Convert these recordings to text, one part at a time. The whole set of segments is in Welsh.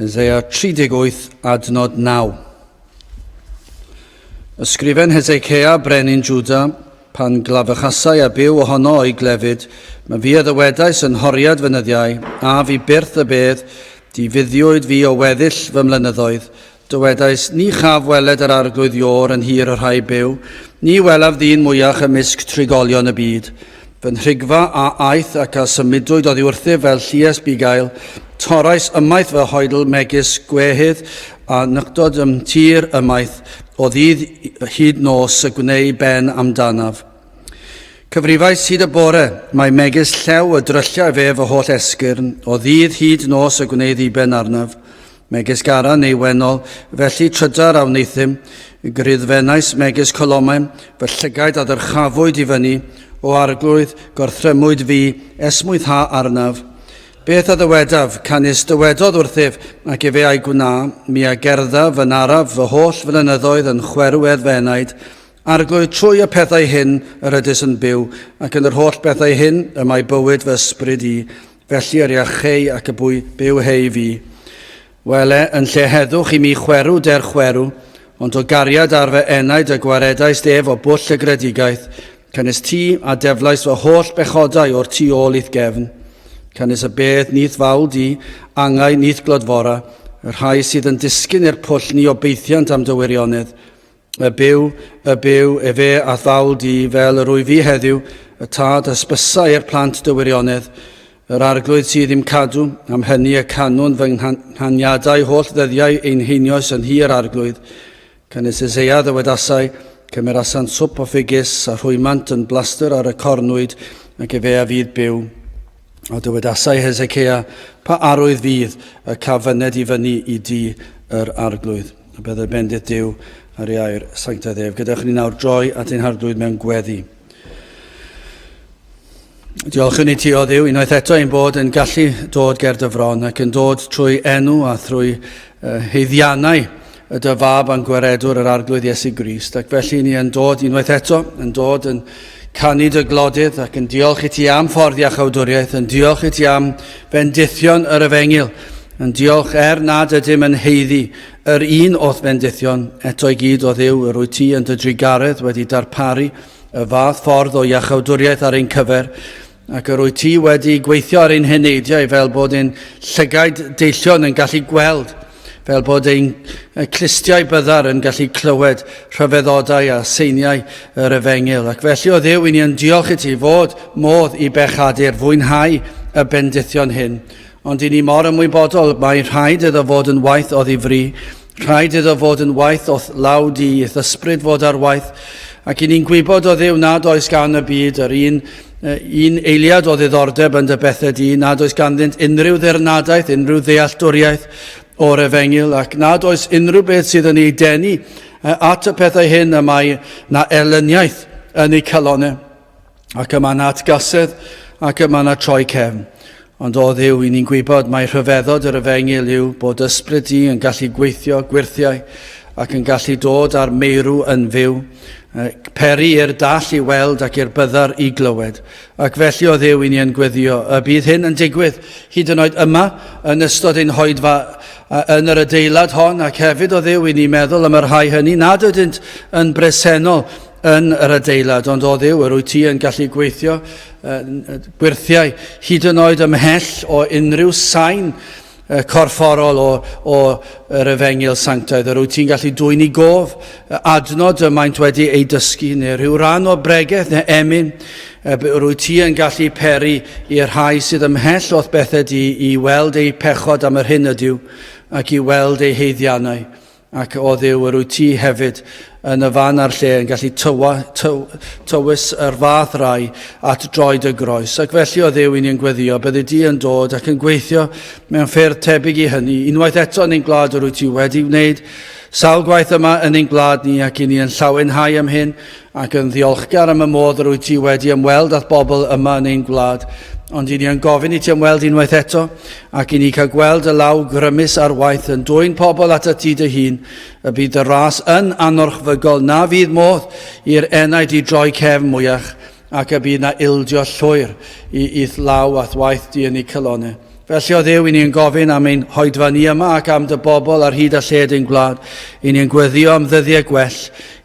Yn Zeia 38 adnod 9. Ysgrifen Hezekia, brenin Juda, pan glafychasai a byw ohono o'i glefyd, mae fi a ddywedais yn horiad fy nyddiau, a fi byrth y bedd, di fuddiwyd fi o weddill fy mlynyddoedd, dywedais, ni chaf weled yr arglwydd Ior yn hir y rhai byw, ni welaf ddyn mwyach ymysg trigolion y byd. Fy nhrigfa a aeth ac a symudwyd oddi wrthyf fel llues bugail. Torrais ymaith fy hoedl megis gwehydd a nyctod ym tir ymaith o ddydd hyd nos y gwneu ben amdanaf. Cyfrifais hyd y bore, mae megis llew y drylliau fe fy holl esgyrn, o ddydd hyd nos y gwneu ddiben arnaf. Megis Gara neu Wennol, felly trydar a wneuthum, gryddfennais megis colomau, fy llygaid a ddyrchafwyd i fyny, o arglwydd, gorthrymwyd fi, esmwytha arnaf. Beth a ddywedaf, canys dywedodd wrthyf, ac efe a'i gwna, mi a gerddaf yn araf fy holl flynyddoedd yn chwerw eddfenaid, Arglwydd, trwy y pethau hyn yr ydys yn byw, ac yn yr holl bethau hyn y mae bywyd fy ysbryd i, Felly yr iach hei ac y bwy byw hei fi. Wele, yn lle heddwch i mi chwerw der chwerw, ond o gariad ar fy enaid y gwaredais ef o bwll y gredigaeth, canys ti a deflais fy holl bechodau o'r tu ôl i'th gefn. Canys y bedd nith fawl di, angau nith glodfora, y rhai sydd yn disgyn i'r pwll ni obeithiant am dy wirionedd, Y byw, y byw, efe a thawl di fel yr wyf fi heddiw, y tad hysbysau i'r plant dy wirionedd, yr arglwydd sydd i'm cadw, am hynny y canwn fy nghaniadau holl ddyddiau ein heinioes yn hi yr arglwydd. Cynnes Eseia ddywedasai, cymerasan swp o ffigys a rhwymant yn blaster ar y cornwyd, ac efe a fydd byw. A dywedasai Hezekia, pa arwydd fydd y caf fyned i fyny i di yr arglwydd. a byddai bendith Duw ar ei air sanctaidd ef. Gyda chyn ni nawr droi at ein hardwyd mewn gweddi. Diolch yn ei ti o ddiw, unwaith eto ein bod yn gallu dod ger dy fron ac yn dod trwy enw a thrwy uh, heiddiannau y dy fab a'n gwaredwr yr arglwydd Iesu Grist. Ac felly ni yn dod unwaith eto, yn dod yn Canid y glodydd ac yn diolch i ti am ffordd iach awdwriaeth, yn diolch i ti am fendithion yr efengil, yn diolch er nad ydym yn heiddi yr un o'th fendithion, eto i gyd o ddiw yr wyt ti yn dy drugaredd wedi darparu y fath ffordd o iachawdwriaeth ar ein cyfer, Ac yr wyt ti wedi gweithio ar ein heneidiau fel bod ein llygaid deillion yn gallu gweld, fel bod ein clustiau byddar yn gallu clywed rhyfeddodau a seiniau yr efengyl. Ac felly, o ddew, i ni yn diolch i ti fod modd i bechadur fwynhau y bendithion hyn, Ond i ni mor ymwybodol, mae rhaid iddo fod yn waith oddi fri, rhaid iddo fod yn waith o'th law di, i'th ysbryd fod ar waith, ac i ni'n gwybod o ddiw nad oes gan y byd yr un un eiliad o ddiddordeb yn dy bethau di, nad oes ganddynt unrhyw ddirnadaeth, unrhyw ddealltwriaeth o'r efengyl, ac nad oes unrhyw beth sydd yn ei denu at y pethau hyn y mae na erlyniaeth yn eu calonau. Ac yma na atgasedd, ac yma na troi cefn. Ond o ddiw, i ni'n gwybod mae rhyfeddod yr efengyl yw bod ysbryd di yn gallu gweithio gwirthiau ac yn gallu dod â'r meirw yn fyw, peri i'r dall i weld ac i'r byddar i glywed. Ac felly o ddiw i ni yn gweddio y bydd hyn yn digwydd hyd yn oed yma yn ystod ein hoedfa yn yr adeilad hon ac hefyd o ddiw i ni meddwl am y rhai hynny nad ydynt yn bresennol yn yr adeilad, ond o ddiw, yr wyt ti yn gallu gweithio uh, gwirthiau hyd yn oed ymhell o unrhyw sain uh, corfforol o, o yr efengil sanctaidd. Yr wyt ti'n gallu dwy'n i gof uh, adnod y maent wedi ei dysgu, neu rhyw ran o bregeth neu emyn, uh, yr wyt ti yn gallu peri i'r rhai sydd ymhell o'th bethed i, i weld eu pechod am yr hyn ydyw, ac i weld eu heiddiannau Ac, o Dduw, yr wyt ti hefyd yn y fan a'r lle yn gallu tywa, tyw, tywys yr fath rai at droed y groes. Ac felly, o Dduw, i ni yn gweddio, byddi di yn dod ac yn gweithio mewn ffyrdd tebyg i hynny. Unwaith eto yn ein gwlad yr wyt ti wedi wneud sawl gwaith yma yn ein gwlad ni ac i ni yn llawenhau am hyn, ac yn ddiolchgar am y modd yr wyt ti wedi ymweld â'th bobl yma yn ein gwlad. Ond i ni yn gofyn i ti ymweld unwaith eto, ac i ni cael gweld y law grymus ar waith yn dwy'n pobl at y ti dy hun, y bydd dy ras yn anorchfygol, na fydd modd i'r enaid i droi cefn mwyach, ac y bydd na ildio llwyr i i'th law a'th waith di yn ei calonau. Felly, o Dduw, i ni yn gofyn am ein hoedfa ni yma ac am dy bobl ar hyd a lled ein gwlad. I ni yn gweddio am ddyddiau gwell.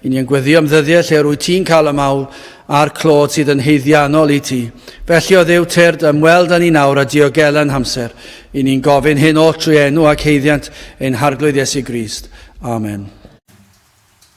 I ni yn gweddio am ddyddiau lle rwy ti'n cael y mawl a'r clod sydd yn heiddiannol i ti. Felly, o Dduw, tyrd ymweld â ni nawr a diogela'n hamser. I ni'n gofyn hyn oll trwy enw ac heiddiant ein Harglwydd Iesu Grist. Amen.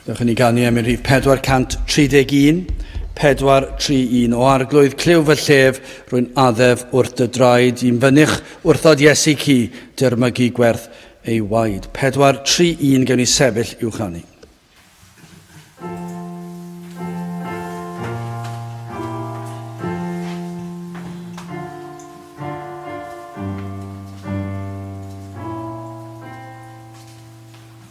Byddwch yn ei ganu am yn rhif 431, 431. O arglwydd clyw fy llef, rwy'n addef wrth dy draed, i'n fynych wrthod Iesu ci, dyrmygu gwerth ei waed. 431 gewn ni sefyll i'w chanu.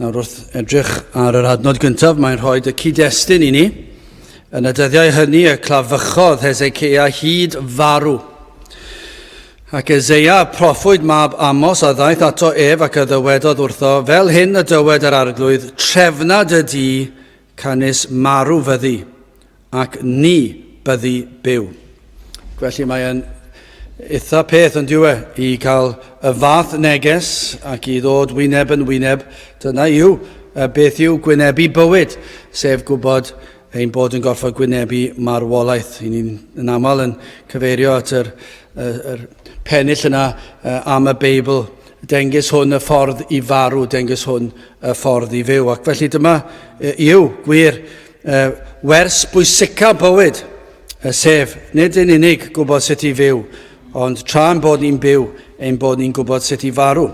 Nawr wrth edrych ar yr adnod gyntaf, mae'n rhoi y cyd-destun i ni. Yn y dyddiau hynny y clafychodd Hezekia hyd farw. Ac Ezeia, proffwyd mab Amos, a ddaeth ato ef ac a ddywedodd wrtho, fel hyn y dywed yr arglwydd, trefnad y di Canys marw fyddi, ac ni byddi byw. Felly mae'n eitha peth yn diwe i cael y fath neges ac i ddod wyneb yn wyneb. Dyna yw beth yw gwynebu bywyd, sef gwybod ein bod yn gorfod gwynebu marwolaeth. I ni'n yn aml yn cyfeirio at yr, yr, yr pennill yna am y Beibl Dengys hwn y ffordd i farw, dengys hwn y ffordd i fyw. Ac felly dyma yw gwir wers bwysica bywyd, sef nid yn unig gwybod sut i fyw, ond tra'n bod ni'n byw, ein bod ni'n gwybod sut i farw.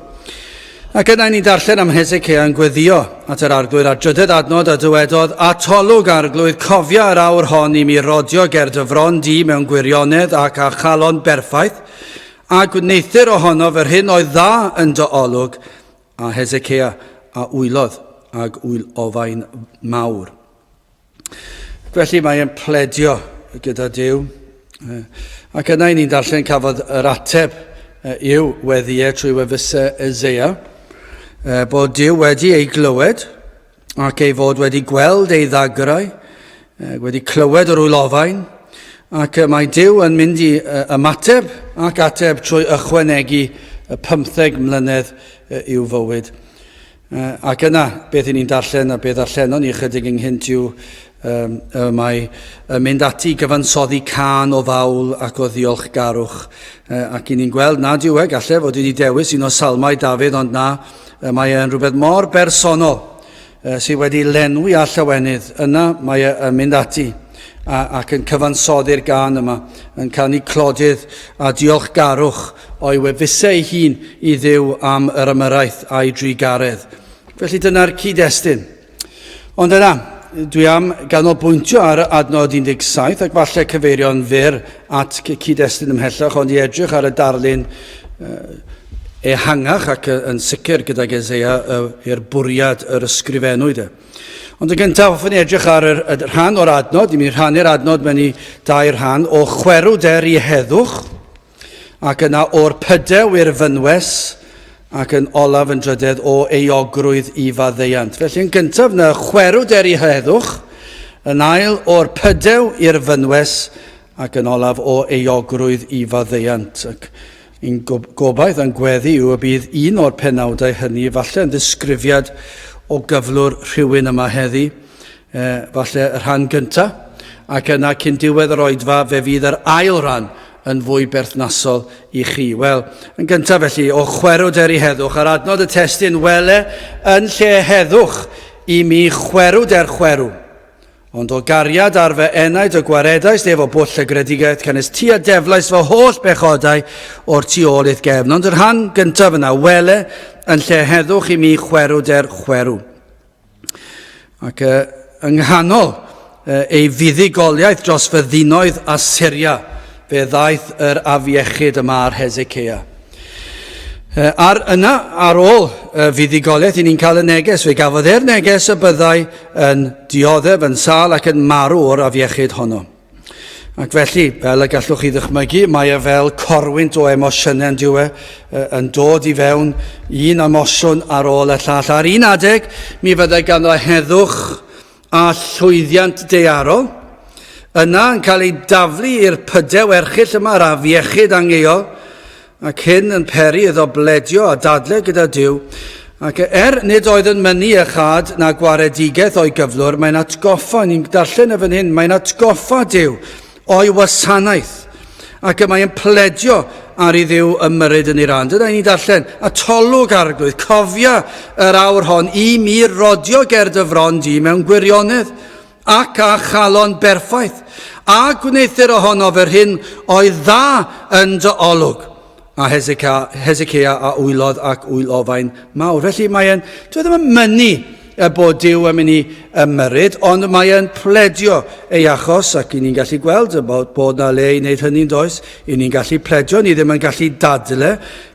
Ac yna ni'n darllen am Hezekiah yn gweddio at yr arglwydd ar drydedd adnod a dywedodd, Atolwg arglwydd, cofia yr awr hon i mi rodio ger dy fron di mewn gwirionedd ac â chalon berffaith, A gwneuthur ohonof yr hyn oedd dda yn dy olwg, a Hezekia a wylodd ag wyl ofain mawr. Felly mae e'n pledio gyda Dyw. Ac yna i ni'n darllen cafodd yr ateb i'w weddiau trwy wefusau Ezeia, bod Dyw wedi ei glywed, ac ei fod wedi gweld ei ddagrau, wedi clywed yr wylofain, ac mae Dyw yn mynd i ymateb ac ateb trwy ychwanegu y pymtheg mlynedd i'w fywyd. Ac yna, beth i ni'n darllen a beth allenon ni ychydig ynghynt yw y mae yn mynd ati gyfansoddi can o fawl ac o ddiolchgarwch ac i ni'n gweld nad yw e, gallai fod wedi dewis un o salmau Dafydd ond na, Y mae e yn rhywbeth mor bersonol uh, sydd wedi lenwi a llawenydd. Yna mae e yn mynd ati a, ac yn cyfansoddi'r gan yma, yn canu clodydd a diolchgarwch o'i wefusau ei hun i ddiw am yr ymyraeth a'i drugaredd. Felly dyna'r cyd-destun. Ond yna, dwi am ganolbwyntio ar adnod 17 ac falle cyfeirio'n fyr at cyd-destun ymhellach, ond i edrych ar y darlun ehangach ac yn sicr gydag Ezeia i'r bwriad yr ysgrifennwyd e. Ond yn gyntaf, hoffwn i edrych ar yr, y rhan o'r adnod, i mi rhannu'r adnod mewn i dair rhan, o chwerw der i heddwch, Ac yna o'r pydew i'r fynwes, ac yn olaf yn drydedd o euogrwydd i faddeuant. Felly yn gyntaf na chwerw der i heddwch, yn ail o'r pydew i'r fynwes, ac yn olaf o euogrwydd i faddeuant. Ac yn gobaith a'n gweddi yw y bydd un o'r penawdau hynny, falle yn ddisgrifiad o gyflwr rhywun yma heddi, E, falle y rhan gynta, ac yna cyn diwedd yr oedfa fe fydd yr ail ran yn fwy berthnasol i chi. Wel, yn gyntaf felly, o chwerwd er i heddwch, ar adnod y testyn, wele yn lle heddwch i mi chwerwd er chwerw. Ond o gariad ar fy enaid y gwaredaist ef o bwll y gredigaeth canys ti a deflais fy holl bechodau o'r tu ôl i'th gefn. Ond yr rhan gyntaf yna, wele yn lle heddwch i mi chwerwd er chwerw. Ac uh, yng nghanol uh, ei fuddugoliaeth dros fyddinoedd a Syria, fe ddaeth yr afiechyd yma ar Hezekia. Uh, ar yna, ar ôl uh, fuddugoliaeth, i ni'n cael y neges, fe gafodd e'r neges y byddai yn dioddef, yn sal ac yn marw o'r afiechyd honno. Ac felly, fel y gallwch chi ddychmygu, mae e fel corwynt o emosiynau yn diwe, yn dod i fewn un emosiwn ar ôl y llall. Ar un adeg, mi fyddai ganddo heddwch a llwyddiant dearol, yna yn cael ei daflu i'r pydew erchill yma ar afiechyd angeio, ac hyn yn peri iddo bledio a dadle gyda Duw, ac er nid oedd yn mynnu a chad na gwaredigaeth o'i gyflwr, mae'n atgoffa, ni'n darllen y fan hyn, mae'n atgoffa Duw o'i wasanaeth, ac y mae'n pledio ar i ddiw ymyryd yn ei ran. Dyna ni'n darllen, a tolwg arglwydd, cofia yr awr hon i mi rodio ger dy fron di mewn gwirionedd, ac a chalon berffaith, a gwneithir ohonof yr hyn oedd dda yn dy olwg. A Hezekia, Hezekia a wylodd ac wyl ofain mawr. Felly mae e'n, dwi ddim yn mynnu y bod Dyw yn mynd i ymyryd, ond mae e'n pledio ei achos, ac i ni'n gallu gweld y bod, bod na le i wneud hynny'n does, i ni'n gallu pledio, ni ddim yn gallu dadle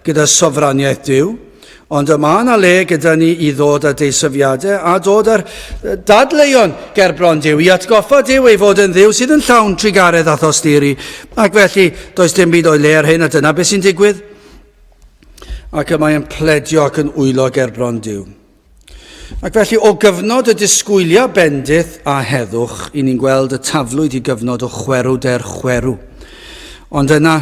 gyda sofraniaeth Dyw. Ond y mae yna le gyda ni i ddod â deisyfiadau a dod â'r dadleuon gerbron Dyw i atgoffa Dyw ei fod yn ddiw sydd yn llawn trugaredd a thosturi. Ac felly, does dim byd o'i le ar hyn a dyna beth sy'n digwydd. Ac y mae yn pledio ac yn wylo gerbron Dyw. Ac felly, o gyfnod y disgwyliau bendith a heddwch, i ni'n gweld y taflwyd i gyfnod o chwerw der chwerw. Ond yna,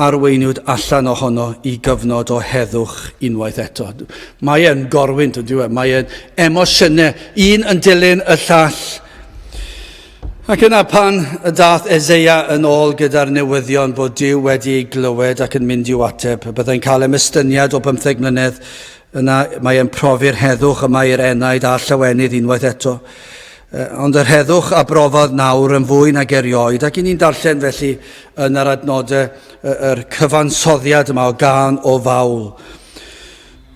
arweiniwyd allan ohono i gyfnod o heddwch unwaith eto. Mae e'n gorwynt yn diwedd, mae e'n emosiynau, un yn dilyn y llall. Ac yna pan y dath Ezeia yn ôl gyda'r newyddion bod Dyw wedi ei glywed ac yn mynd i'w ateb, byddai'n cael emestyniad o bymtheg mlynedd Yna mae e'n profi'r heddwch y mae yr enaid a'r llawenydd unwaith eto. Uh, ond yr heddwch a brofodd nawr yn fwy nag erioed, ac i ni'n darllen felly yn yr adnodau yr cyfansoddiad yma o gan o fawl.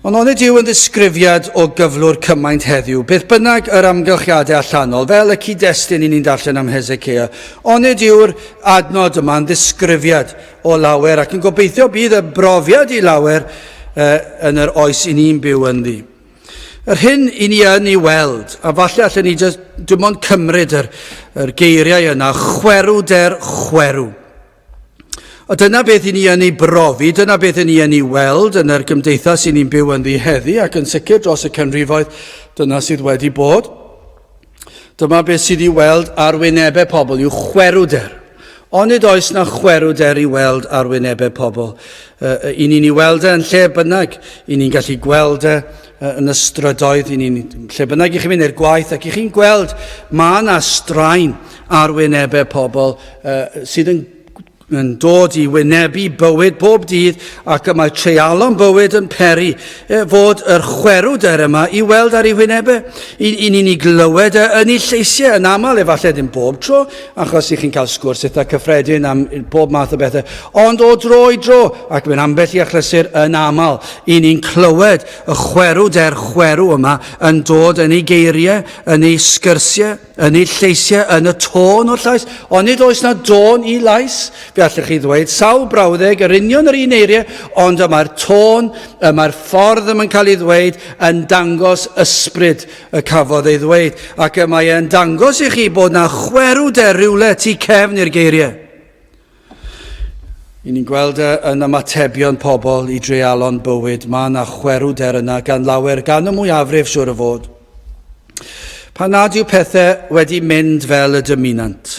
Ond onid yw yn ddisgrifiad o gyflwr cymaint heddiw, beth bynnag yr amgylchiadau allanol, fel y cyd-destun i ni'n darllen am Hezekia, onid yw'r adnod yma'n ddisgrifiad o lawer ac yn gobeithio bydd y brofiad i lawer uh, yn yr oes i ni'n byw ynddi. Yr hyn i ni yn ei weld, a falle allan ni just, dim ond cymryd yr, yr geiriau yna, chwerw der chwerw. A dyna beth i ni yn ei brofi, dyna beth i ni yn ei weld yn yr gymdeithas i ni'n byw yn ddi heddi ac yn sicr dros y canrifoedd dyna sydd wedi bod. Dyma beth sydd i weld ar wynebau pobl yw chwerwder. Ond nid oes na chwerwder i weld ar wynebau pobl. Uh, I ni'n ei weld e yn lle bynnag. I ni'n gallu gweld e uh, yn y strydoedd. I ni'n lle bynnag i chi'n mynd i'r gwaith ac i chi'n gweld mae yna straen ar wynebau pobl uh, sydd yn yn dod i wynebu bywyd bob dydd ac y mae treialon bywyd yn peri e, fod yr chwerwder yma i weld ar ei wynebau. I, I ni'n ei glywed e, yn ei lleisiau yn aml, efallai ddim bob tro, achos i chi'n cael sgwrs eitha cyffredin am bob math o bethau, ond o dro i dro, ac mae'n ambell i achlysur yn aml, i ni'n clywed y chwerwder chwerw yma yn dod yn ei geiriau, yn ei sgyrsiau. Yn eu lleisiau, yn y tôn o'r llais, ond nid oes na dôn i lais. Fe allwch chi ddweud sawl brawddeg yr union yr un eiriau, ond y mae'r tôn, y mae'r ffordd yma'n cael ei ddweud yn dangos ysbryd y cafodd ei ddweud, ac y mae e'n dangos i chi bod na chwerw de rywle tu cefn i'r geiriau. I ni'n gweld e, yn ymatebion pobl i dreialon bywyd, mae yna chwerwder yna gan lawer, gan y mwyafrif siwr o fod. Pan nad yw pethau wedi mynd fel y dymunant.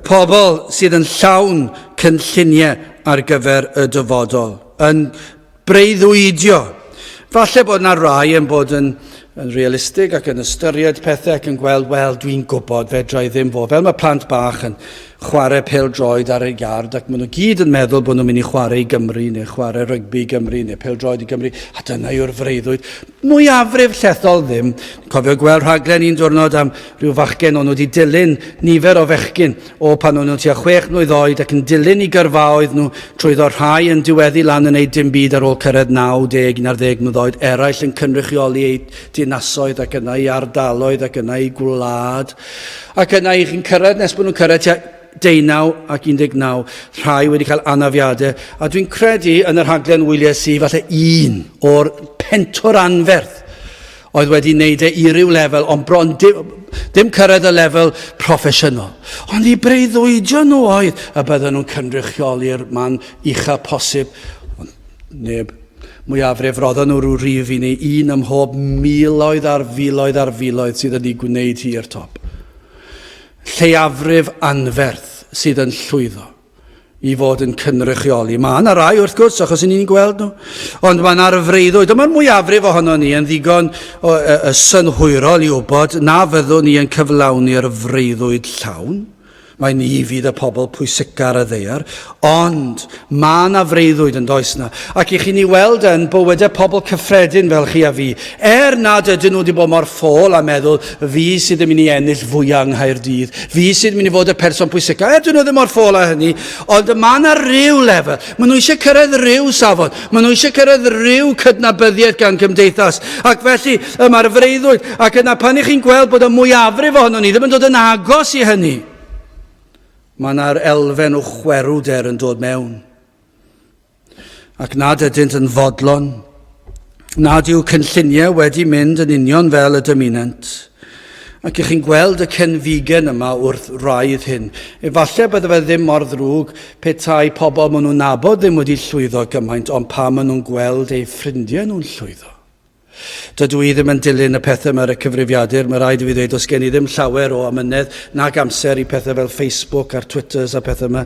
Pobl sydd yn llawn cynlluniau ar gyfer y dyfodol, yn breuddwydio. Falle bod yna rai yn bod yn, yn realistig ac yn ystyried pethau ac yn gweld, wel, dwi'n gwybod, fedra i ddim fod. Fel mae plant bach yn chwarae pel droed ar ei gard ac maen nhw gyd yn meddwl bod nhw'n mynd i chwarae i Gymru neu chwarae rygbi i Gymru neu pel droed i Gymru a dyna yw'r freuddwyd. Mwyafrif llethol ddim. Cofio gweld rhaglen un diwrnod am rhyw fachgen o'n nhw wedi dilyn nifer o fechgyn O pan o'n nhw'n tua chwech mlwydd oed ac yn dilyn i gyrfaoedd nhw, trwyddo rhai yn diweddu lan yn neud dim byd ar ôl cyrraedd 90, 11 mlwydd oed, eraill yn cynrychioli eu dinasoedd ac yna i ardaloedd ac yna i gwlad ac yna i chi'n cyrraedd nes bod nhw'n cyrraedd tua deunaw ac 19, rhai wedi cael anafiadau a dwi'n credu yn y rhaglen wylies i falle un o'r pentwr anferth oedd wedi wneud e i ryw lefel, ond bron dim, dim cyrraedd y lefel proffesiynol. Ond i breuddwydio nhw oedd y bydden nhw'n cynrychioli'r man ucha posib. Ond neb, mwyafrif, roddon nhw rhyw rif i ni, un ym mhob miloedd ar filoedd ar filoedd sydd yn ei gwneud hi i'r top. Lleiafrif anferth sydd yn llwyddo. i fod yn cynrychioli. Mae yna rai, wrth gwrs, achos yn ni'n gweld nhw. Ond mae yna'r freuddwyd, a mae'r mwyafrif ohono ni yn ddigon o, y, y synhwyrol i wybod na fyddwn ni yn cyflawni'r freuddwyd llawn. Mae ni fydd y pobl pwysicar y ddeiar, ond mae yna freuddwyd yn does na. Ac i chi ni weld yn bywydau pobl cyffredin fel chi a fi, er nad ydyn nhw wedi bod mor ffôl a meddwl Fi sydd yn mynd i ennill fwyaf yng Nghaerdydd. Fi sydd yn mynd i fod y person pwysicaf. Er, dyn nhw ddim mor ffôl â hynny, ond mae yna rhyw lefel. Mae nhw eisiau cyrraedd rhyw safon. Mae nhw eisiau cyrraedd rhyw cydnabyddiaeth gan gymdeithas. Ac felly, yma'r freuddwyd. Ac yna, pan ych chi'n gweld bod y mwyafrif ohono ni ddim yn dod yn agos i hynny, mae yna'r elfen o chwerwder yn dod mewn. ac nad ydynt yn fodlon, nad yw cynlluniau wedi mynd yn union fel y dymunant. Ac ych chi'n gweld y cenfigen yma wrth raidd hyn. Efallai bydde fe ddim mor ddrwg petai pobl maen nhw'n nabod ddim wedi llwyddo gymaint, ond pa maen nhw'n gweld eu ffrindiau nhw'n llwyddo. Dydw i ddim yn dilyn y pethau yma ar y cyfrifiadur, mae rhaid i fi ddweud, os gen i ddim llawer o amynedd nag amser i pethau fel Facebook a'r Twitters a pethau yma.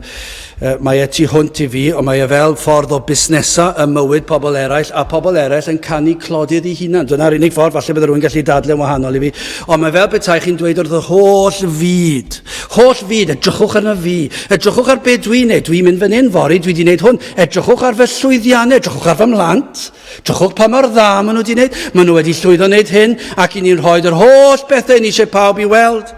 Mae e tu hwnt i fi, ond mae e fel ffordd o busnesu ym mywyd pobl eraill, a phobl eraill yn canu clodydd i hunan. Dyna'r unig ffordd, falle bydde rhywun gallu dadlau'n wahanol i fi, ond mae fel petai chi'n dweud wrth yr holl fyd, holl fyd, edrychwch arna fi, edrychwch ar be dwi'n neud, dwi'n mynd fan hyn fory, dwi wedi neud hwn, edrychwch ar fy llwyddiannau, edrychwch ar fy mhlant. Drychwch pa mor dda maen nhw wedi wneud. Maen nhw wedi llwyddo wneud hyn ac i ni'n rhoi yr holl bethau yn eisiau pawb i weld.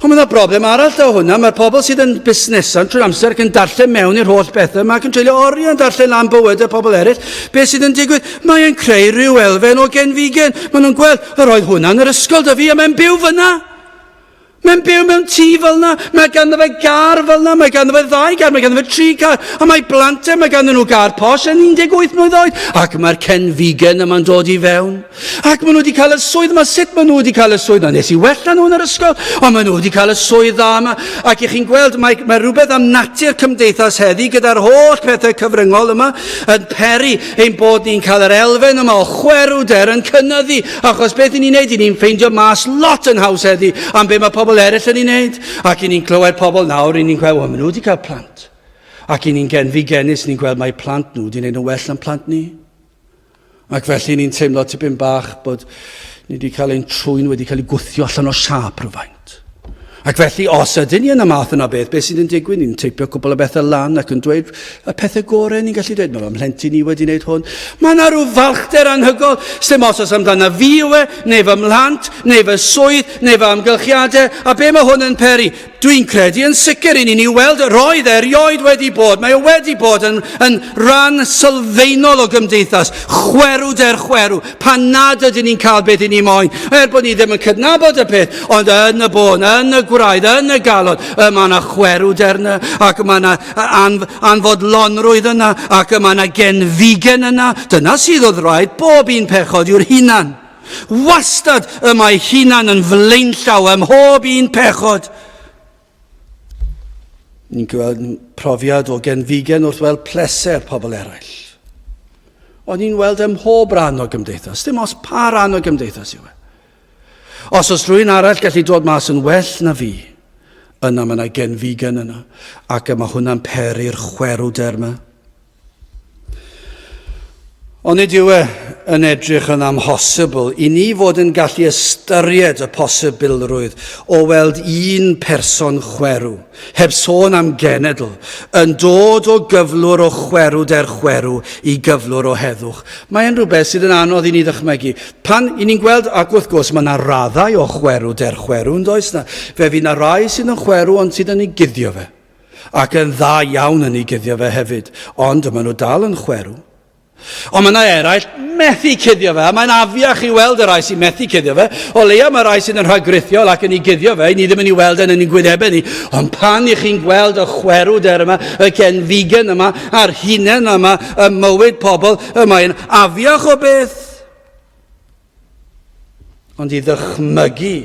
Ond mae'n broblem arall da hwnna. Mae'r pobl sydd yn busnesau trwy'r amser ac yn darllen mewn i'r holl bethau yma ac yn treulio oriau yn darllen am bywyd y pobl eraill. Be sydd yn digwydd? Mae'n creu rhyw elfen o genfigen. Maen nhw'n gweld, yr oedd hwnna yn yr ysgol da fi a mae'n byw fyna. Mae'n byw mewn tŷ fel yna, mae ganddo fe gar fel yna, mae ganddo fe ddau gar, mae ganddo fe tri car, a mae blant e, mae ganddo nhw gar posh yn 18 mlynedd oed, ac mae'r Ken Vegan yma'n dod i fewn. Ac maen nhw wedi cael y swydd yma, sut maen nhw wedi cael y swydd yma? Nes i wella nhw yn yr ysgol, ond maen nhw wedi cael y swydd dda yma. Ac i chi'n gweld, mae, mae rhywbeth am natur cymdeithas heddi gyda'r holl pethau cyfryngol yma yn peri. ein bod ni'n cael yr elfen yma o chwerwder yn cynnyddu, achos beth i ni'n neud, i ni'n ffeindio mas lot yn haws heddi am be mae pobl eraill yn ei wneud, ac i ni'n clywed pobl nawr, i ni'n gweld, wel, maen nhw wedi cael plant. Ac i ni'n genfi genus, ni'n gweld mae plant nhw wedi gwneud yn well yn plant ni. Ac felly ni'n teimlo tipyn bach bod ni wedi cael ein trwy'n wedi cael ei gwthio allan o siap rhywfaint. Ac felly, os ydyn ni yn y math yna o beth, beth sydd yn digwydd? Ni'n teipio cwbl o bethau lan ac yn dweud y pethau gorau ni'n gallu dweud. Mae fy mhlentyn i wedi wneud hwn. Mae yna rhyw falchder anhygol, sy'n os oes amdana fi yw e, neu fy mhlant, neu fy swydd, neu fy amgylchiadau, a be mae hwn yn peri? Dwi'n credu yn sicr i ni'n ei weld, roedd e rioed wedi bod, mae o wedi bod yn, yn rhan sylfaenol o gymdeithas, chwerw der chwerw, pan nad ydyn ni'n cael beth i ni moyn, er bod ni ddim yn cydnabod y peth, ond yn y bôn, yn y gwraidd, yn y galon, y mae yna chwerwd erna, ac mae yna anf anfodlonrwydd yna, ac mae yna genfigen yna. Dyna sydd oedd rhaid bob un pechod yw'r hunan. Wastad y mae hunan yn flaenllaw ym mhob un pechod. Ni'n gweld profiad o genfigen wrth weld pleser pobl eraill. Ond ni'n weld ym mhob rhan o gymdeithas, dim os pa rhan o gymdeithas yw e. Os oes rhywun arall gallu dod mas yn well na fi, yna mae yna genfigen yna, ac y mae hwnna'n peri'r chwerwder yma. Onid yw e yn edrych yn amhosibl i ni fod yn gallu ystyried y posibilrwydd o weld un person chwerw, heb sôn am genedl, yn dod o gyflwr o chwerw der chwerw i gyflwr o heddwch? Mae e'n rhywbeth sydd yn anodd i ni ddychmygu. Pan i ni'n gweld, ac wrth gwrs mae yna raddau o chwerw der chwerw, yn does na? Fe fydd yna rai sydd yn chwerw ond sydd yn ei guddio fe. Ac yn dda iawn yn ei guddio fe hefyd, ond maen nhw dal yn chwerw. Ond mae yna eraill methu cuddio fe, a mae'n afiach i weld y rai sy'n methu cuddio fe. O leia mae rai sydd yn rhagrithiol ac yn ei guddio fe, i ni ddim yn ei weld yn ein gwynebau ni. Ond pan i chi'n gweld y chwerw der yma, y gen figan yma, a'r hunain yma, y mywyd pobl, y mae'n afiach o beth. Ond i ddychmygu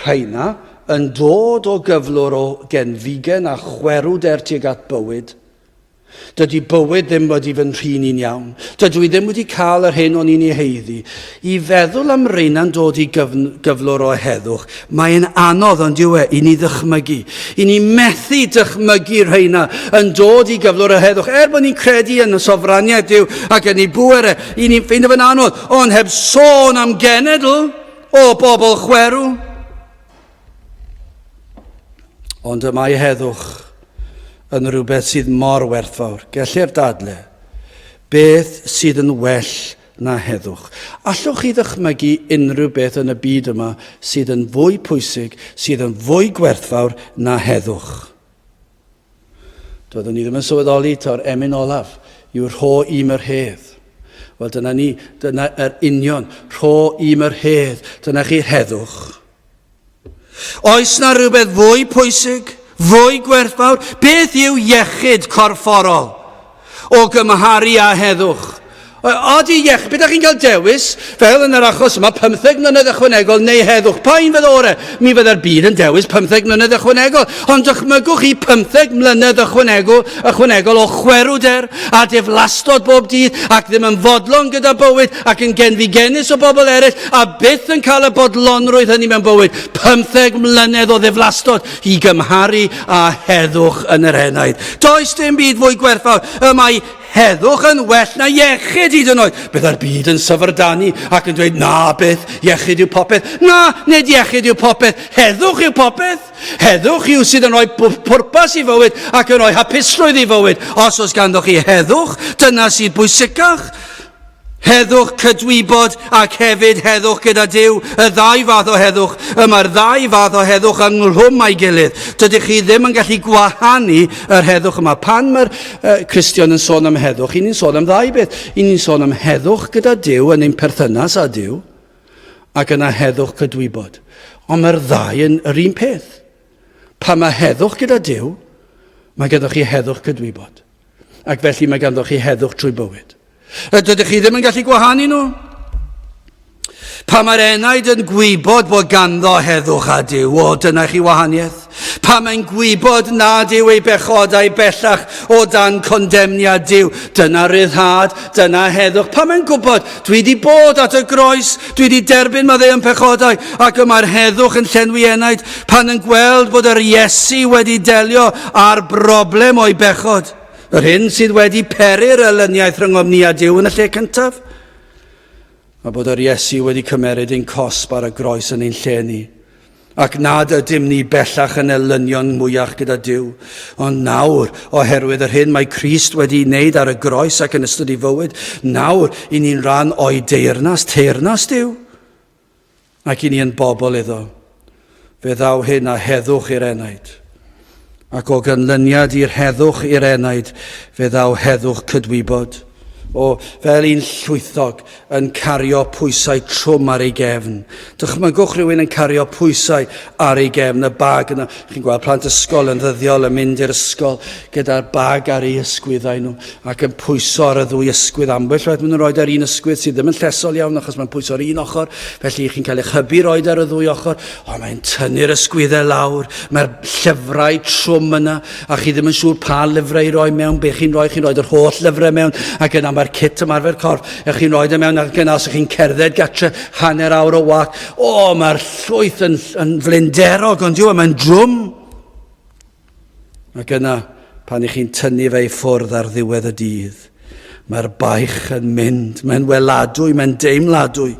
rheina yn dod o gyflwr o genfigen a chwerwder tuag at bywyd. Dydy bywyd ddim wedi fy nhrin i'n iawn. Dydw i ddim wedi cael yr hyn o'n i'n ei heiddi. I feddwl am reina'n dod i gyflwr o heddwch, mae'n anodd, ond yw e, i ni ddychmygu. I ni methu dychmygu rheina yn dod i gyflwr o heddwch, er bod ni'n credu yn y sofraniaeth Dyw ac yn ei bŵer e, i ni'n ffeindio fe'n anodd. Ond heb sôn am genedl o bobl chwerw. Ond y mae heddwch yn rhywbeth sydd mor werthfawr. Gellir dadle, beth sydd yn well na heddwch? Allwch chi ddychmygu unrhyw beth yn y byd yma sydd yn fwy pwysig, sydd yn fwy gwerthfawr na heddwch? Doeddwn i ddim yn sylweddoli taw'r emyn olaf yw rho i'm yr hedd. Wel dyna ni, dyna yr union, rho i'm yr hedd, dyna chi heddwch. Oes na rhywbeth fwy pwysig, fwy gwerthfawr? Beth yw iechyd corfforol? O gymharu â heddwch. Oed i iechyd, beth ydych chi'n cael dewis, fel yn yr achos yma, 15 mlynedd ychwanegol neu heddwch? Pa un fydd orau? Mi fydda'r byd yn dewis 15 mlynedd ychwanegol, ond dychmygwch chi 15 mlynedd ychwanegol, ychwanegol o chwerwder a diflastod bob dydd ac ddim yn fodlon gyda bywyd ac yn genfigennus o bobl eraill a byth yn cael y bodlonrwydd hynny mewn bywyd. 15 mlynedd o ddiflastod, i gymharu â heddwch yn yr enaid. Does dim byd fwy gwerthfawr y mae heddwch yn well na iechyd hyd yn oed. Byddai'r byd yn syfrdanu ac yn dweud, na beth, iechyd yw popeth. Na, nid iechyd yw popeth, heddwch yw popeth. Heddwch yw sydd yn rhoi pwrpas i fywyd ac yn rhoi hapusrwydd i fywyd. Os oes ganddoch chi heddwch, dyna sydd bwysicach. Heddwch cydwybod ac hefyd heddwch gyda Duw, y ddau fath o heddwch. Y mae'r ddau fath o heddwch yng nghlwm a'i gilydd. Dydych chi ddim yn gallu gwahanu yr heddwch yma. Pan mae'r uh, Cristion yn sôn am heddwch, i ni'n sôn am ddau beth. I ni'n sôn am heddwch gyda Duw yn ein perthynas â Duw, ac yna heddwch cydwybod. Ond mae'r ddau yn yr un peth. Pan mae heddwch gyda Duw, mae gyda chi heddwch cydwybod. ac felly mae ganddoch chi heddwch trwy bywyd. Dydych chi ddim yn gallu gwahanu nhw. Pa mae'r enaid yn gwybod bod ganddo heddwch a Dyw, o dyna chi wahaniaeth. Pa mae'n gwybod nad yw ei bechodau bellach o dan condemniad Dyw. Dyna ryddhad, dyna heddwch. Pa mae'n gwybod, dwi wedi bod at y groes, Dwi wedi derbyn maddeuon pechodau, ac y mae'r heddwch yn llenwi enaid pan yn gweld bod yr Iesu wedi delio â'r broblem o'i bechod, yr hyn sydd wedi peri'r elyniaeth rhyngom ni a Duw yn y lle cyntaf, a bod yr Iesu wedi cymeryd ein cosb ar y groes yn ein lle ni. ac nad ydym ni bellach yn elynion mwyach gyda Dyw, ond nawr, oherwydd yr hyn mae Christ wedi ei wneud ar y groes ac yn ystod ei fywyd, nawr i ni'n rhan o'i deyrnas, teyrnas Dyw, ac i ni yn bobl iddo. Fe ddaw hyn a heddwch i'r enaid. Ac o ganlyniad i'r heddwch i'r enaid, fe ddaw heddwch cydwybod. O, fel un llwythog yn cario pwysau trwm ar ei gefn. Dychmygwch rhywun yn cario pwysau ar ei gefn, y bag yna. Chi'n gweld plant ysgol yn ddyddiol yn mynd i'r ysgol gyda'r bag ar ei ysgwyddau nhw ac yn pwyso ar y ddwy ysgwydd. Ambell waith maen nhw'n rhoi ar un ysgwydd sydd ddim yn llesol iawn achos mae'n pwyso ar un ochr, felly chi'n cael eich hybu rhoi ar y ddwy ochr. Ond mae'n tynnu'r ysgwyddau lawr, mae'r llyfrau trwm yna, a chi ddim yn siŵr pa lyfrau i roi mewn, be chi'n rhoi, chi'n rhoi yr holl lyfrau mewn, ac yna mae'r cit ymarfer corff, a chi'n rhoi ddim e mewn, ac yna os chi'n cerdded gatre hanner awr o wac, o, mae'r llwyth yn, yn flinderog, ond yw e, mae'n drwm. Ac yna, pan i chi'n tynnu fe i ffwrdd ar ddiwedd y dydd, mae'r baich yn mynd, mae'n weladwy, mae'n deimladwy.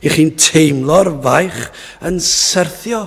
I chi'n teimlo'r faich yn syrthio.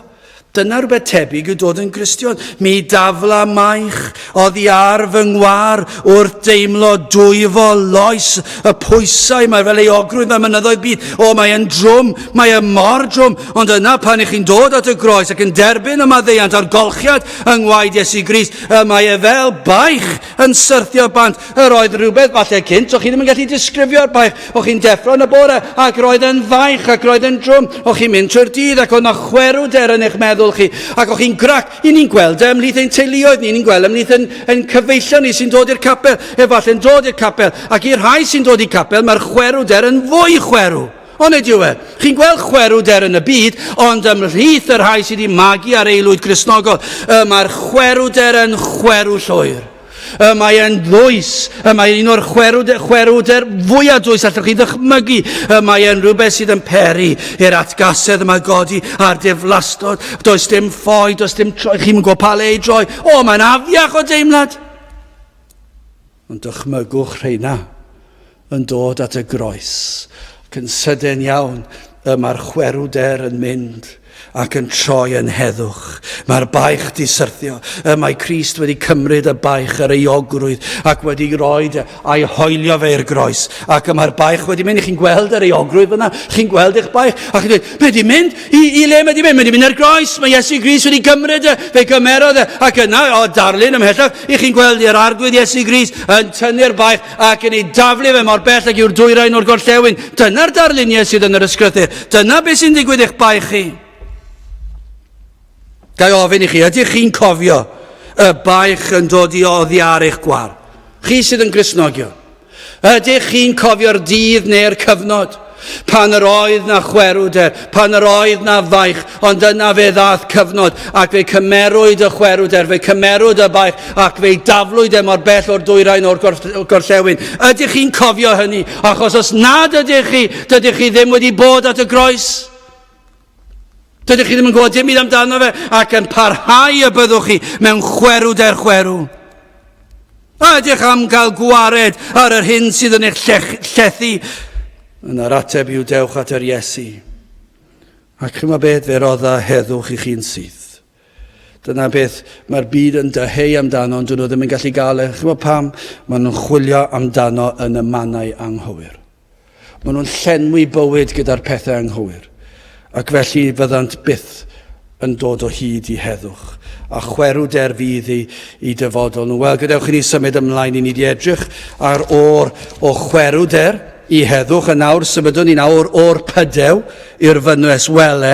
Dyna rhywbeth tebyg yw dod yn Gristion. Mi dafla maich oddi ar fy ngwar wrth deimlo dwyfo loes y pwysau mae fel ei ogrwydd mewn mynyddoedd byd. O, mae'n drwm, mae'n mor drwm, Ond yna, pan ych chi'n dod at y groes ac yn derbyn y maddeiant a'r golchiad yng ngwaed Iesu Grist, y mae e fel baich yn syrthio bant. Yr oedd rhywbeth falle cynt, o chi ddim yn gallu disgrifio'r baich. O chi'n deffro yn y bore ac roedd yn faich ac roedd yn drwm. O chi'n mynd trwy'r dydd ac o'na chwerw der yn eich meddwl chi. Ac o chi'n grac, i ni'n gweld e ymhlith ein teuluoedd ni, ni'n gweld e ymhlith yn, yn cyfeillion ni sy'n dod i'r capel, efallai'n dod i'r capel. Ac i'r rhai sy'n dod i'r capel, mae'r chwerw der yn fwy chwerw. Onid yw e? Chi'n gweld chwerwder yn y byd, ond ymhlith y rhai sydd wedi magu ar eilwyd Gristnogol, y mae'r chwerwder yn chwerw llwyr. Y mae e'n ddwys, y mae un o'r chwerwder, chwerwder fwyaf dwys allwch chi ddychmygu. Y mae e'n rhywbeth sydd yn peri i'r atgasedd yma godi a'r deflastod. Does dim ffoi, does dim troi, chi'n gwybod pa le i droi. O, mae'n afiach o deimlad. Ond dychmygwch rheina yn dod at y groes, ac yn sydyn iawn y mae'r chwerwder yn mynd ac yn troi yn heddwch. Mae'r baich di syrthio. Y mae Christ wedi cymryd y baich yr eogrwydd ac wedi roi e a'i hoelio fe i'r groes. Ac y mae'r baich wedi mynd. Chi'n gweld yr eogrwydd fyna? Chi'n gweld eich baich? Ac chi'n dweud, be di mynd? I, I le mae di mynd? Mae di mynd ar groes. Mae Iesu Gris wedi gymryd e. Fe gymerodd e. Ac yna, o darlun ymhellach, i chi'n gweld i'r arglwydd Iesu Gris yn tynnu'r baich ac yn ei daflu fe mor bell ac yw'r dwyrain o'r gorllewin. Dyna'r darlun Iesu yn yr ysgrythur. Dyna beth sy'n digwydd i'ch baich chi. Ga i ofyn i chi, ydych chi'n cofio y baich yn dod i oddi ar eich gwar? Chi sydd yn grisnogion. Ydych chi'n cofio'r dydd neu'r cyfnod? Pan yr oedd na chwerwder, pan yr oedd na faich, ond yna fe ddath cyfnod, ac fe cymerwyd y chwerwder, fe cymerwyd y baich, ac fe daflwyd e mor bell o'r dwyrain o'r gorllewin. Ydych chi'n cofio hynny? Achos os nad ydych chi, dydych chi ddim wedi bod at y groes. Dydych chi ddim yn gwybod dim byd amdano fe ac yn parhau y byddwch chi mewn chwerw der chwerw. A ydych am gael gwared ar yr hyn sydd yn eich llethu? Yn yr ateb yw dewch at yr Iesu. Ac chyma beth fe rodda heddwch i chi'n syth. Dyna beth mae'r byd yn dyheu amdano, ond dyn nhw ddim yn gallu gael e. Chymod pam? Maen nhw'n chwilio amdano yn y mannau anghywir. Maen nhw'n llenwi bywyd gyda'r pethau anghywir. Ac felly fyddant byth yn dod o hyd i heddwch. A chwerw der fydd i, i dyfodol nhw. Wel, gadewch i ni symud ymlaen i ni di edrych ar o'r o chwerw der i heddwch. A nawr symudwn ni'n awr o'r pydew i'r fynwes wele.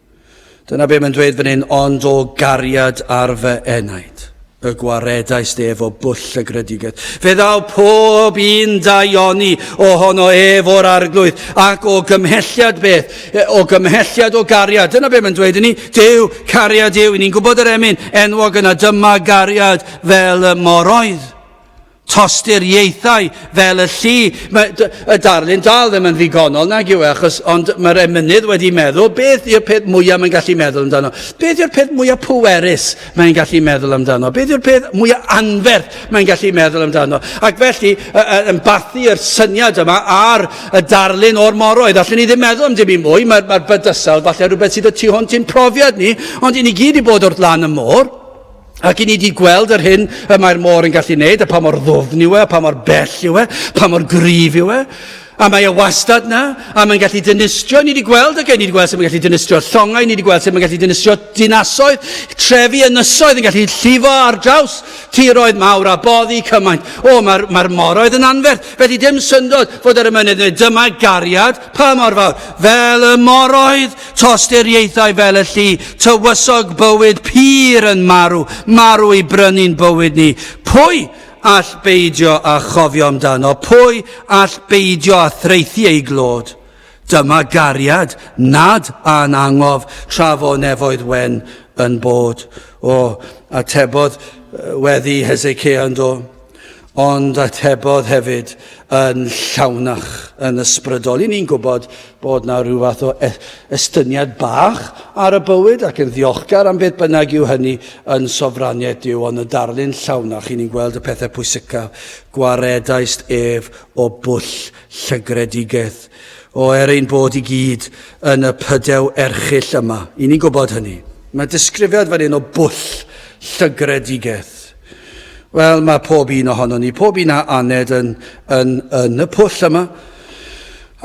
Dyna be mae'n dweud fan hyn, ond o gariad ar fy enaid, y gwaredais ef o bwll y gredigedd. Fe ddaw pob un daioni ohono ef o'r arglwydd, ac o gymhelliad beth, e, o gymhelliad o gariad. Dyna be mae'n dweud i ni, Dyw cariad yw, i ni'n gwybod yr emyn enwog yna, dyma gariad fel y moroedd. tosturiaethau fel y llu. Mae y darlun dal ddim yn ddigonol nag yw e, achos ond mae'r emynydd wedi meddwl beth yw'r peth mwyaf mae'n gallu meddwl amdano. Beth yw'r peth mwyaf pwerus mae'n gallu meddwl amdano. Beth yw'r peth mwyaf anferth mae'n gallu meddwl amdano. Ac felly, yn bathu yr syniad yma ar y darlun o'r moroedd, allwn ni ddim meddwl am dim i mwy, mae'r mae bydysawd falle rhywbeth sydd y tu hwnt i'n profiad ni, ond i ni gyd i bod wrth lan y môr, Ac i ni di gweld yr hyn y mae'r môr yn gallu wneud, a pa mor ddwfn yw e, a pa mor bell yw e, pa mor gryf yw e, a mae e wastad na, a mae'n gallu dynistrio, ni wedi gweld, okay, ni wedi gweld sut mae'n gallu dynistrio llongau, ni wedi gweld sut mae'n gallu dynistrio dinasoedd, trefi ynysoedd yn gallu llifo ar draws tiroedd mawr a boddi cymaint. O, mae'r mae moroedd yn anferth, felly dim syndod fod yr ymenydd yn dweud, dyma gariad Pa mor fawr? Fel y mor oedd tosturiaethau fel y llu, tywysog bywyd pur yn marw, marw i brynu'n bywyd ni. Pwy all beidio â chofio amdano? Pwy all beidio â thraethu ei glod? Dyma gariad nad a'n angof tra fo nefoedd wen yn bod. O, atebodd weddi Hesecia yndo. Ond atebodd hefyd yn llawnach, yn ysbrydol. I ni'n gwybod bod na rhyw fath o e- estyniad bach ar y bywyd ac yn ddiolchgar am beth bynnag yw hynny yn sofraniaeth Dyw, ond y darlun llawnach i ni'n gweld y pethau pwysicaf, gwaredaist ef o bwll llygredigaeth, o er ein bod i gyd yn y pydew erchyll yma. I ni'n gwybod hynny. Mae disgrifiad fan hyn o bwll llygredigaeth. Wel, mae pob un ohono ni, pob un a aned yn, yn, yn y pwll yma.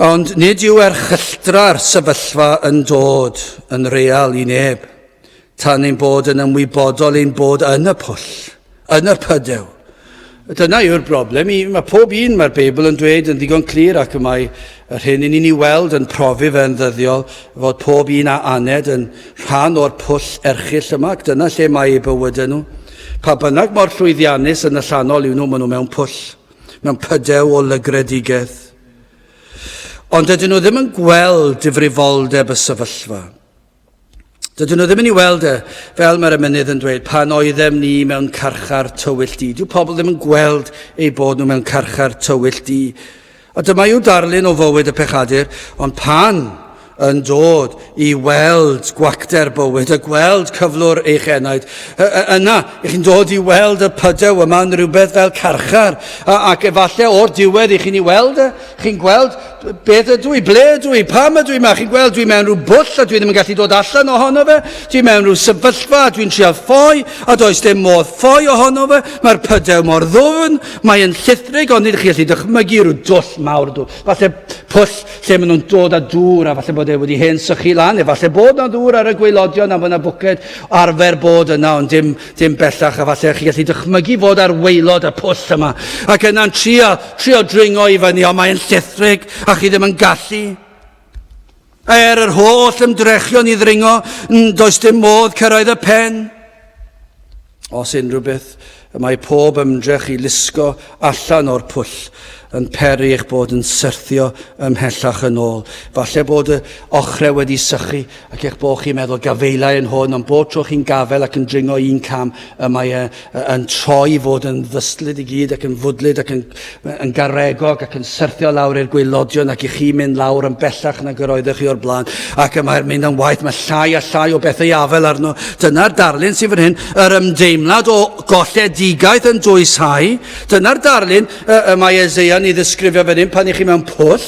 Ond nid yw erchylltra'r sefyllfa yn dod yn real i neb, tan ein bod yn ymwybodol ein bod yn y pwll, yn y pydew. Dyna yw'r broblem. Mae pob un, mae'r Beibl yn dweud yn ddigon clir ac y mae Yr hyn i ni'n ei weld yn profi fe'n ddyddiol fod pob un a aned yn rhan o'r pwll erchyll yma ac dyna lle mae eu bywydau nhw. Pa bynnag mor llwyddiannus yn y llanol yw nhw, maen nhw mewn pwll, mewn pydew o lygredigaeth. Ond dydyn nhw ddim yn gweld difrifoldeb y sefyllfa. Dydyn nhw ddim yn ei weld e, fel mae'r emynydd yn dweud, pan oeddem ni mewn carchar tywyll di. Dyw pobl ddim yn gweld eu bod nhw mewn carchar tywyll di. A dyma yw darlun o fywyd y pechadur, ond pan yn dod i weld gwacter bywyd, a gweld cyflwr eich enaid. Yna, ych chi'n dod i weld y pydew yma yn rhywbeth fel carchar, ac efallai o'r diwedd i chi'n ei weld e, Chi'n gweld, beth ydw i, ble ydw i, pam ydw i yma? Chi'n gweld, dwi mewn rhyw bwll a dwi ddim yn gallu dod allan ohono fe. Dwi mewn rhyw sefyllfa a dwi'n trial ffoi a does dim modd ffoi ohono fe. Mae'r pydew mor ddwfn, mae'n llithrig, ond nid chi'n gallu dychmygu rhyw dwll mawr dŵr. Falle pwll lle maen nhw'n dod â dŵr a falle bod e wedi hen sychu lan, efallai bod na ddŵr ar y gweilodion a bod na bwced arfer bod yna, ond dim Dim bellach, efallai chi gallu dychmygu fod ar waelod y pwll yma, ac yna'n trio, trio dringo i fyny, ond mae'n llithrig, a chi ddim yn gallu. Er yr holl ymdrechion i ddringo, does dim modd cyrraedd y pen. Os unrhyw beth, y mae pob ymdrech i lusgo allan o'r pwll yn peri eich bod yn syrthio ymhellach yn ôl. Falle bod y ochrau wedi sychu ac eich bod chi'n meddwl gafaelai yn hwn, ond bob tro chi'n gafael ac yn dringo un cam, y mae e yn troi i fod yn ddystlyd i gyd ac yn fwdlyd ac yn, yn garegog ac yn syrthio lawr i'r gwaelodion ac i chi mynd lawr yn bellach nag yr oeddech chi o'r blaen. Ac y mae'r mynd am waith, mae llai a llai o bethau i afael arno. Dyna'r darlun sy'n fan hyn, yr ymdeimlad o golledigaeth yn dwyshau. Dyna'r darlun y, y mae Eseia'n ei ddisgrifio fan hyn pan ych chi mewn pwll,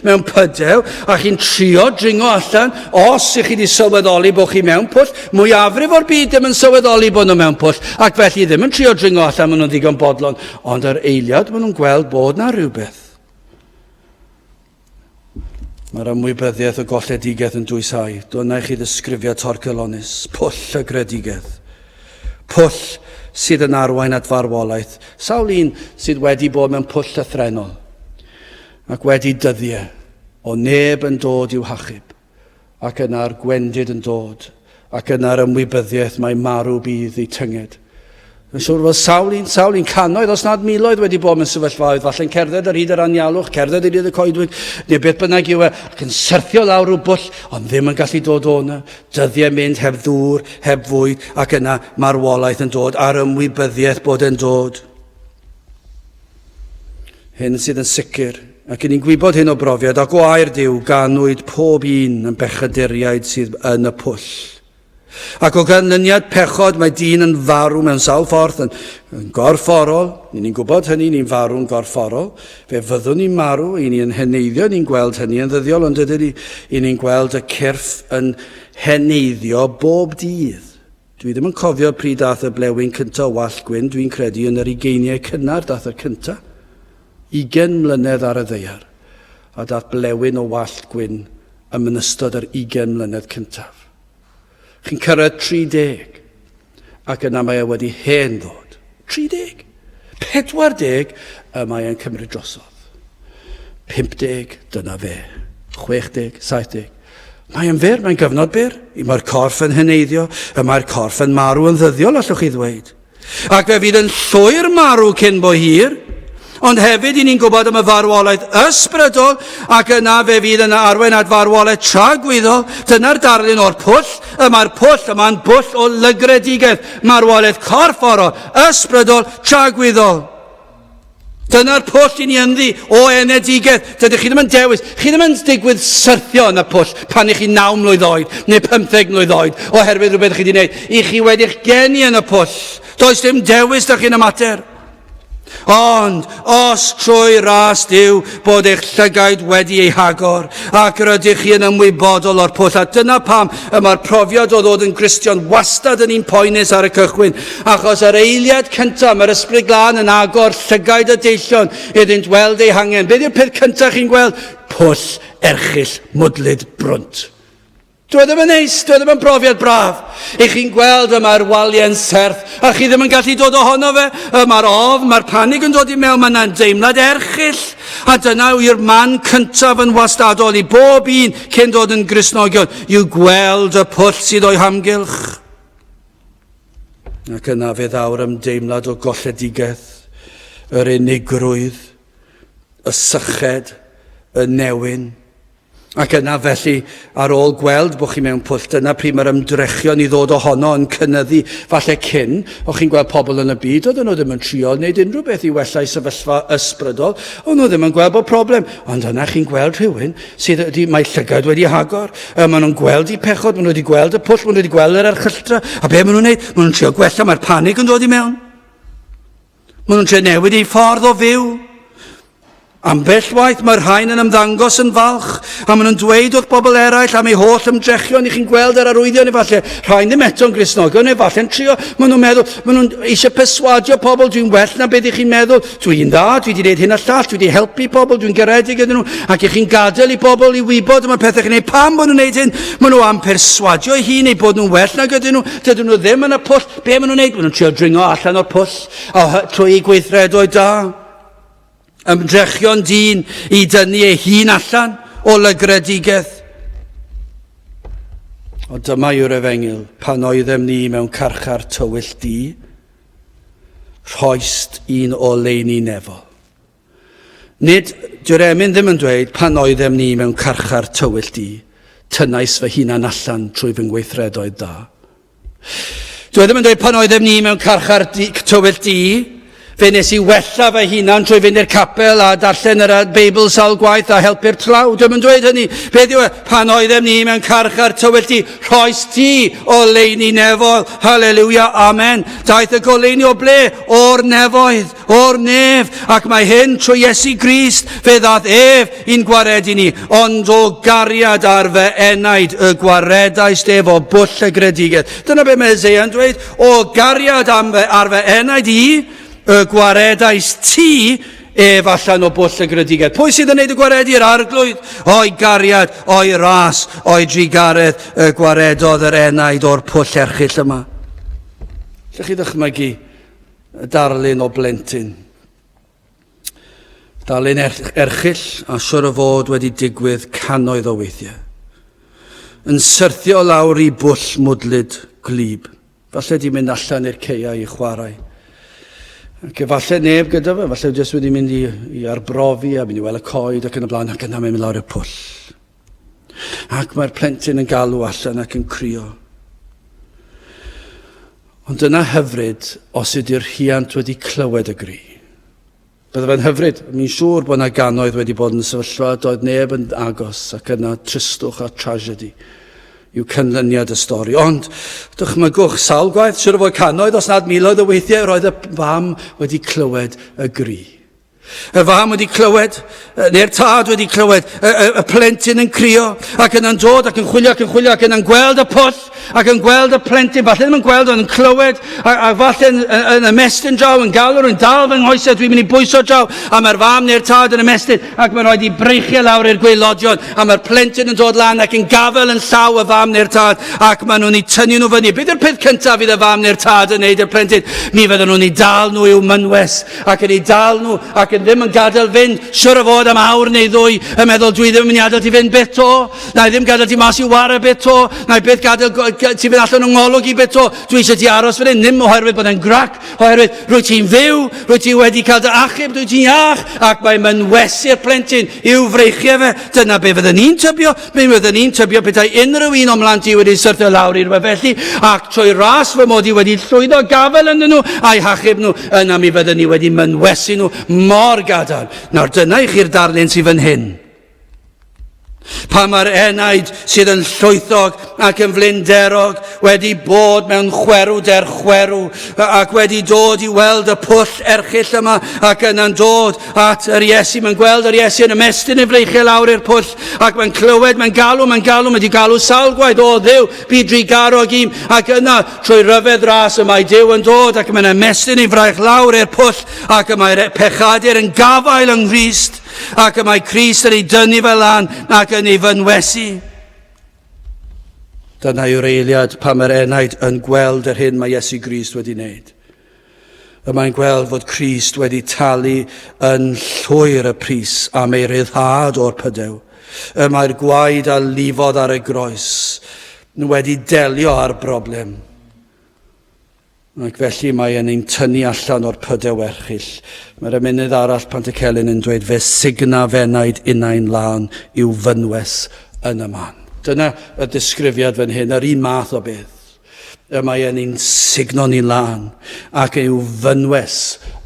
mewn pydew, a chi'n trio dringo allan, os ych chi wedi sylweddoli bod chi mewn pwll, mwyafrif o'r byd ddim yn sylweddoli bod nhw mewn pwll, ac felly ddim yn trio dringo allan, maen nhw'n ddigon bodlon, ond yr eiliad maen nhw'n gweld bod na rhywbeth. Mae'r ymwybyddiaeth o golledigaeth yn dwysáu. Dyna i chi ddisgrifiad torcellonus, pwll y gredigedd. Pwll sydd yn arwain at farwolaeth. Sawl un sydd wedi bod mewn pwll llythrenol ac wedi dyddiau o neb yn dod i'w hachub. ac yna'r gwendid yn dod, ac yna'r ymwybyddiaeth mae marw bydd eu tynged. Yn siŵr fod sawl un, sawl un canoedd, os nad miloedd wedi bod mewn sefyllfaoedd, falle'n cerdded ar hyd yr anialwch, cerdded ar hyd y coedwig, neu beth bynnag yw e, ac yn syrthio lawr rhyw bwll, ond ddim yn gallu dod o'na. Dyddiau mynd heb ddŵr, heb fwyd, ac yna marwolaeth yn dod, a'r ymwybyddiaeth bod e'n dod. Hyn sydd yn sicr, ac i ni'n gwybod hyn o brofiad a gwair Dyw, ganwyd pob un yn bechaduriaid sydd yn y pwll. Ac o ganlyniad pechod mae dyn yn farw mewn sawl ffordd, yn, yn gorfforol, ni'n ni'n gwybod hynny, ni'n farw'n gorfforol, fe fyddwn ni'n marw, i ni yn heneiddio, ni'n gweld hynny yn ddyddiol, ond ydyn ni, i ni'n gweld y cyrff yn heneiddio bob dydd. Dwi ddim yn cofio pryd dath y blewyn cynta o wallt gwyn, dwi'n credu yn yr ugeiniau cynnar dath y cynta, ugen mlynedd ar y ddeiar, a dath blewyn o wallt gwyn ym mynystod yr ugen mlynedd cyntaf. Chi'n cyrraedd 30, ac yna mae e wedi hen ddod. 30! 40 y mae e'n cymryd drosodd. 50, dyna fe. 60, 70. Mae yn fyr, mae'n gyfnod byr. Y mae'r corff yn heneiddio, y mae'r corff yn marw yn ddyddiol, allwch chi ddweud. Ac fe fydd yn llwyr marw cyn bo hir, ond hefyd i ni'n gwybod am y farwolaeth ysbrydol, ac yna fe fydd yn arwen at farwolaeth tragwyddol. Dyna'r darlun o'r pwll, y mae'r pwll, y mae'n bwll o lygredigaeth. Marwolaeth corfforol, ysbrydol, tragwyddol. Dyna'r pwll i ni ynddi o enedigedd. Dydych chi ddim yn dewis. Chi ddim yn digwydd syrthio yn y pwll pan ych chi naw mlwydd oed neu 15 mlwydd oed oherwydd rhywbeth chi wedi gwneud. I chi wedi'ch geni yn y pwll. Does dim dewis da chi'n y mater. Ond, os trwy ras Duw bod eich llygaid wedi ei hagor, ac yr ydych chi yn ymwybodol o'r pwll, a dyna pam y mae'r profiad o ddod yn Gristion wastad yn un poenus ar y cychwyn, achos yr eiliad cyntaf mae'r Ysbryd Glân yn agor llygaid y deillion iddynt weld eu hangen. Beth yw'r peth cyntaf chi'n gweld? Pwll erchyll mwdlyd brwnt. Dyw e ddim yn neis, dyw e ddim yn brofiad braf. I chi'n gweld y mae'r walie'n serth, a chi ddim yn gallu dod ohono fe, y mae'r ofn, mae'r panig yn dod i mewn, mae yna'n deimlad erchill. A dyna yw'r man cyntaf yn wastadol i bob un cyn dod yn grisnogion, yw gweld y pwll sydd o'i hamgylch. Ac yna fe ddaw'r ymdeimlad o golledigaeth, yr unigrwydd, y syched, y newyn, Ac yna, felly, ar ôl gweld bod chi mewn pwll, dyna pryd mae'r ymdrechion i ddod ohono yn cynnyddu. Falle cyn, o chi'n gweld pobl yn y byd, oedden nhw ddim yn trio wneud unrhyw beth i wella'u sefyllfa ysbrydol, o'n nhw ddim yn gweld bod problem. Ond yna chi'n gweld rhywun sydd wedi, mae llygaid wedi hagor, uh, maen nhw'n gweld i pechod, maen nhw wedi gweld y pwll, maen nhw wedi gweld yr erchylltra, a be maen nhw'n gwneud? Maen nhw'n trio gwella, mae'r panig yn dod i mewn. Maen nhw'n trio newid eu ffordd o fyw. Ambell waith mae'r rhain yn ymddangos yn falch a maen nhw'n dweud wrth bobl eraill am eu holl ymdrechion i chi'n gweld yr arwyddion efallai. Rhain ddim eto'n grisnogion, efallai'n trio. Maen nhw'n meddwl, maen nhw'n eisiau perswadio pobl, dwi'n well na beth i chi'n meddwl, dwi'n dda, dwi wedi gwneud hyn a llall, dwi wedi helpu pobl, dwi'n garedig iddyn nhw, ac i chi'n gadael i bobl i wybod y mae pethau chi'n gwneud. Pam bod nhw'n gwneud hyn? Maen nhw am perswadio ei hun ei bod nhw'n well nag ydyn nhw, dydyn nhw ddim yn y pwll. Be maen nhw'n neud? Maen nhw'n trio dringo allan o'r pwll a trwy gweithredoedd da. Ymdrechion dyn i dynnu ei hun allan o lygredigaeth. O dyma yw'r efengyl, pan oeddem ni mewn carchar tywyll di, rhoist un o leini nefol. Nid, dyw'r emyn ddim yn dweud pan oeddem ni mewn carchar tywyll di, tynnais fy hunan allan trwy fy ngweithredoedd da. Dwi ddim yn dweud pan oeddem ni mewn carchar tywyll di, fe nes i wella fy hunan trwy fynd i'r capel a darllen yr Beibl sawl gwaith a helpu'r tlawd. Dwi'n yn dweud hynny. Beth yw e? Pan oeddem ni mewn carchar tywyll di, rhoes ti o leini nefoedd. Haleluia, amen. Daeth y goleini o ble? O'r nefoedd. O'r nef, ac mae hyn trwy Iesu Grist, fe ddad ef i'n gwaredu ni, ond o gariad ar fy enaid y gwaredais ef o bwll y gredigedd. Dyna beth mae Isaiah yn dweud, o gariad am fy, ar fy enaid i, y gwaredais ti ef allan o bwll y gredigedd. Pwy sydd yn gwneud y gwaredu? Yr arglwydd, o'i gariad, o'i ras, o'i drugaredd, y gwaredodd yr enaid o'r pwll erchill yma. Lle chi ddychmygu Darlun o blentyn. Darlun er-, erchill a siwr o fod wedi digwydd cannoedd o weithiau. Yn syrthio lawr i bwll mwdlyd glib. Falle di mynd allan i'r ceiau i chwarae. Ac efallai neb gyda fe, falle jyst wedi mynd i, i arbrofi a mynd i weld y coed ac yn y blaen ac yna mynd lawr y pwll. Ac mae'r plentyn yn galw allan ac yn crio. Ond dyna hyfryd os ydy'r rhiant wedi clywed y gri. Bydde fe'n hyfryd, mi'n siŵr bod yna gannoedd wedi bod yn sefyllfa doedd neb yn agos ac yna tristwch a tragedy yw cynlyniad y stori. Ond dychmygwch sawl gwaith, siwr o fod cannoedd os nad miloedd o weithiau roedd y fam wedi clywed y gri. Y fam wedi clywed, neu'r tad wedi clywed, y, y, y plentyn yn crio, ac yna'n dod ac yn chwilio ac yn chwilio ac yna'n gweld y pwll, ac yn gweld y plentyn, falle ddim yn gweld ond yn clywed, a, a falle yn, yn, yn ymestyn draw, yn galw'r yn dal fy nghoesau, dwi'n mynd i bwyso draw, a mae'r fam neu'r tad yn ymestyn, ac mae'n rhaid i breichiau lawr i'r gweilodion, a mae'r plentyn yn dod lan ac yn gafel yn llaw y fam neu'r tad, ac maen nhw'n ei tynnu nhw fyny. Beth yw'r peth cyntaf fydd y fam neu'r tad yn neud i'r plentyn? Mi fydden nhw'n ei dal nhw i'w mynwes, ac yn eu dal nhw ac yn ddim yn gadael fynd, siwr o fod am awr neu ddwy, yn meddwl dwi ddim yn mynd i adael ti fynd byth to, na i ddim gadael ti mas i ware byth to, na i byth gadael ti fynd allan o ngolwg i byth to, dwi eisiau ti aros fan hyn, ddim oherwydd bod e'n grac, oherwydd rwy ti'n fyw, rwy ti wedi cael dy achub, rwy ti'n iach, ac mae mynwesu'r plentyn i'w freichiau fe, dyna be fyddwn ni'n tybio, Mi fyddwn i'n tybio petai unrhyw un o'n mhlant i wedi syrthio lawr i'r wefelli ac trwy ras fy mod i wedi llwyddo gafael ynddyn nhw a'i hachub nhw, yna mi fyddwn i wedi mynwesu nhw mor gadarn. Nawr dyna i chi'r darlun sydd fan hyn. Pa mae'r enaid sydd yn llwythog ac yn flinderog wedi bod mewn chwerw der chwerw ac wedi dod i weld y pwll erchill yma ac yna'n dod at yr Iesu. Mae'n gweld yr Iesu yn ymestyn ei freichiau lawr i'r pwll ac mae'n clywed, mae'n galw, mae'n galw, mae wedi galw sawl gwaith, o ddew, bu dri garog im, ac yna trwy ryfedd ras y mae Dyw yn dod ac mae'n ymestyn ei fraich lawr i'r pwll ac y mae'r pechadur yn gafael yng Nghyst ac y mae Christ yn ei dynnu fel lan ac yn ei fynwesu. Dyna yw'r eiliad pan mae'r enaid yn gweld yr hyn mae Iesu Grist wedi wneud. Y mae'n gweld fod Crist wedi talu yn llwyr y pris am ei ryddhad o'r pydew. Y mae'r gwaed a lifodd ar y groes wedi delio â'r broblem. Ac felly mae e'n ein tynnu allan o'r pydew erchill. Mae'r ymunydd arall Pantycelyn yn dweud fe signa fenaid innau'n lân i'w fynwes yn y man. Dyna y disgrifiad fan hyn, yr un math o beth. y mae e'n un sugno ni'n lân, ac yw fynwes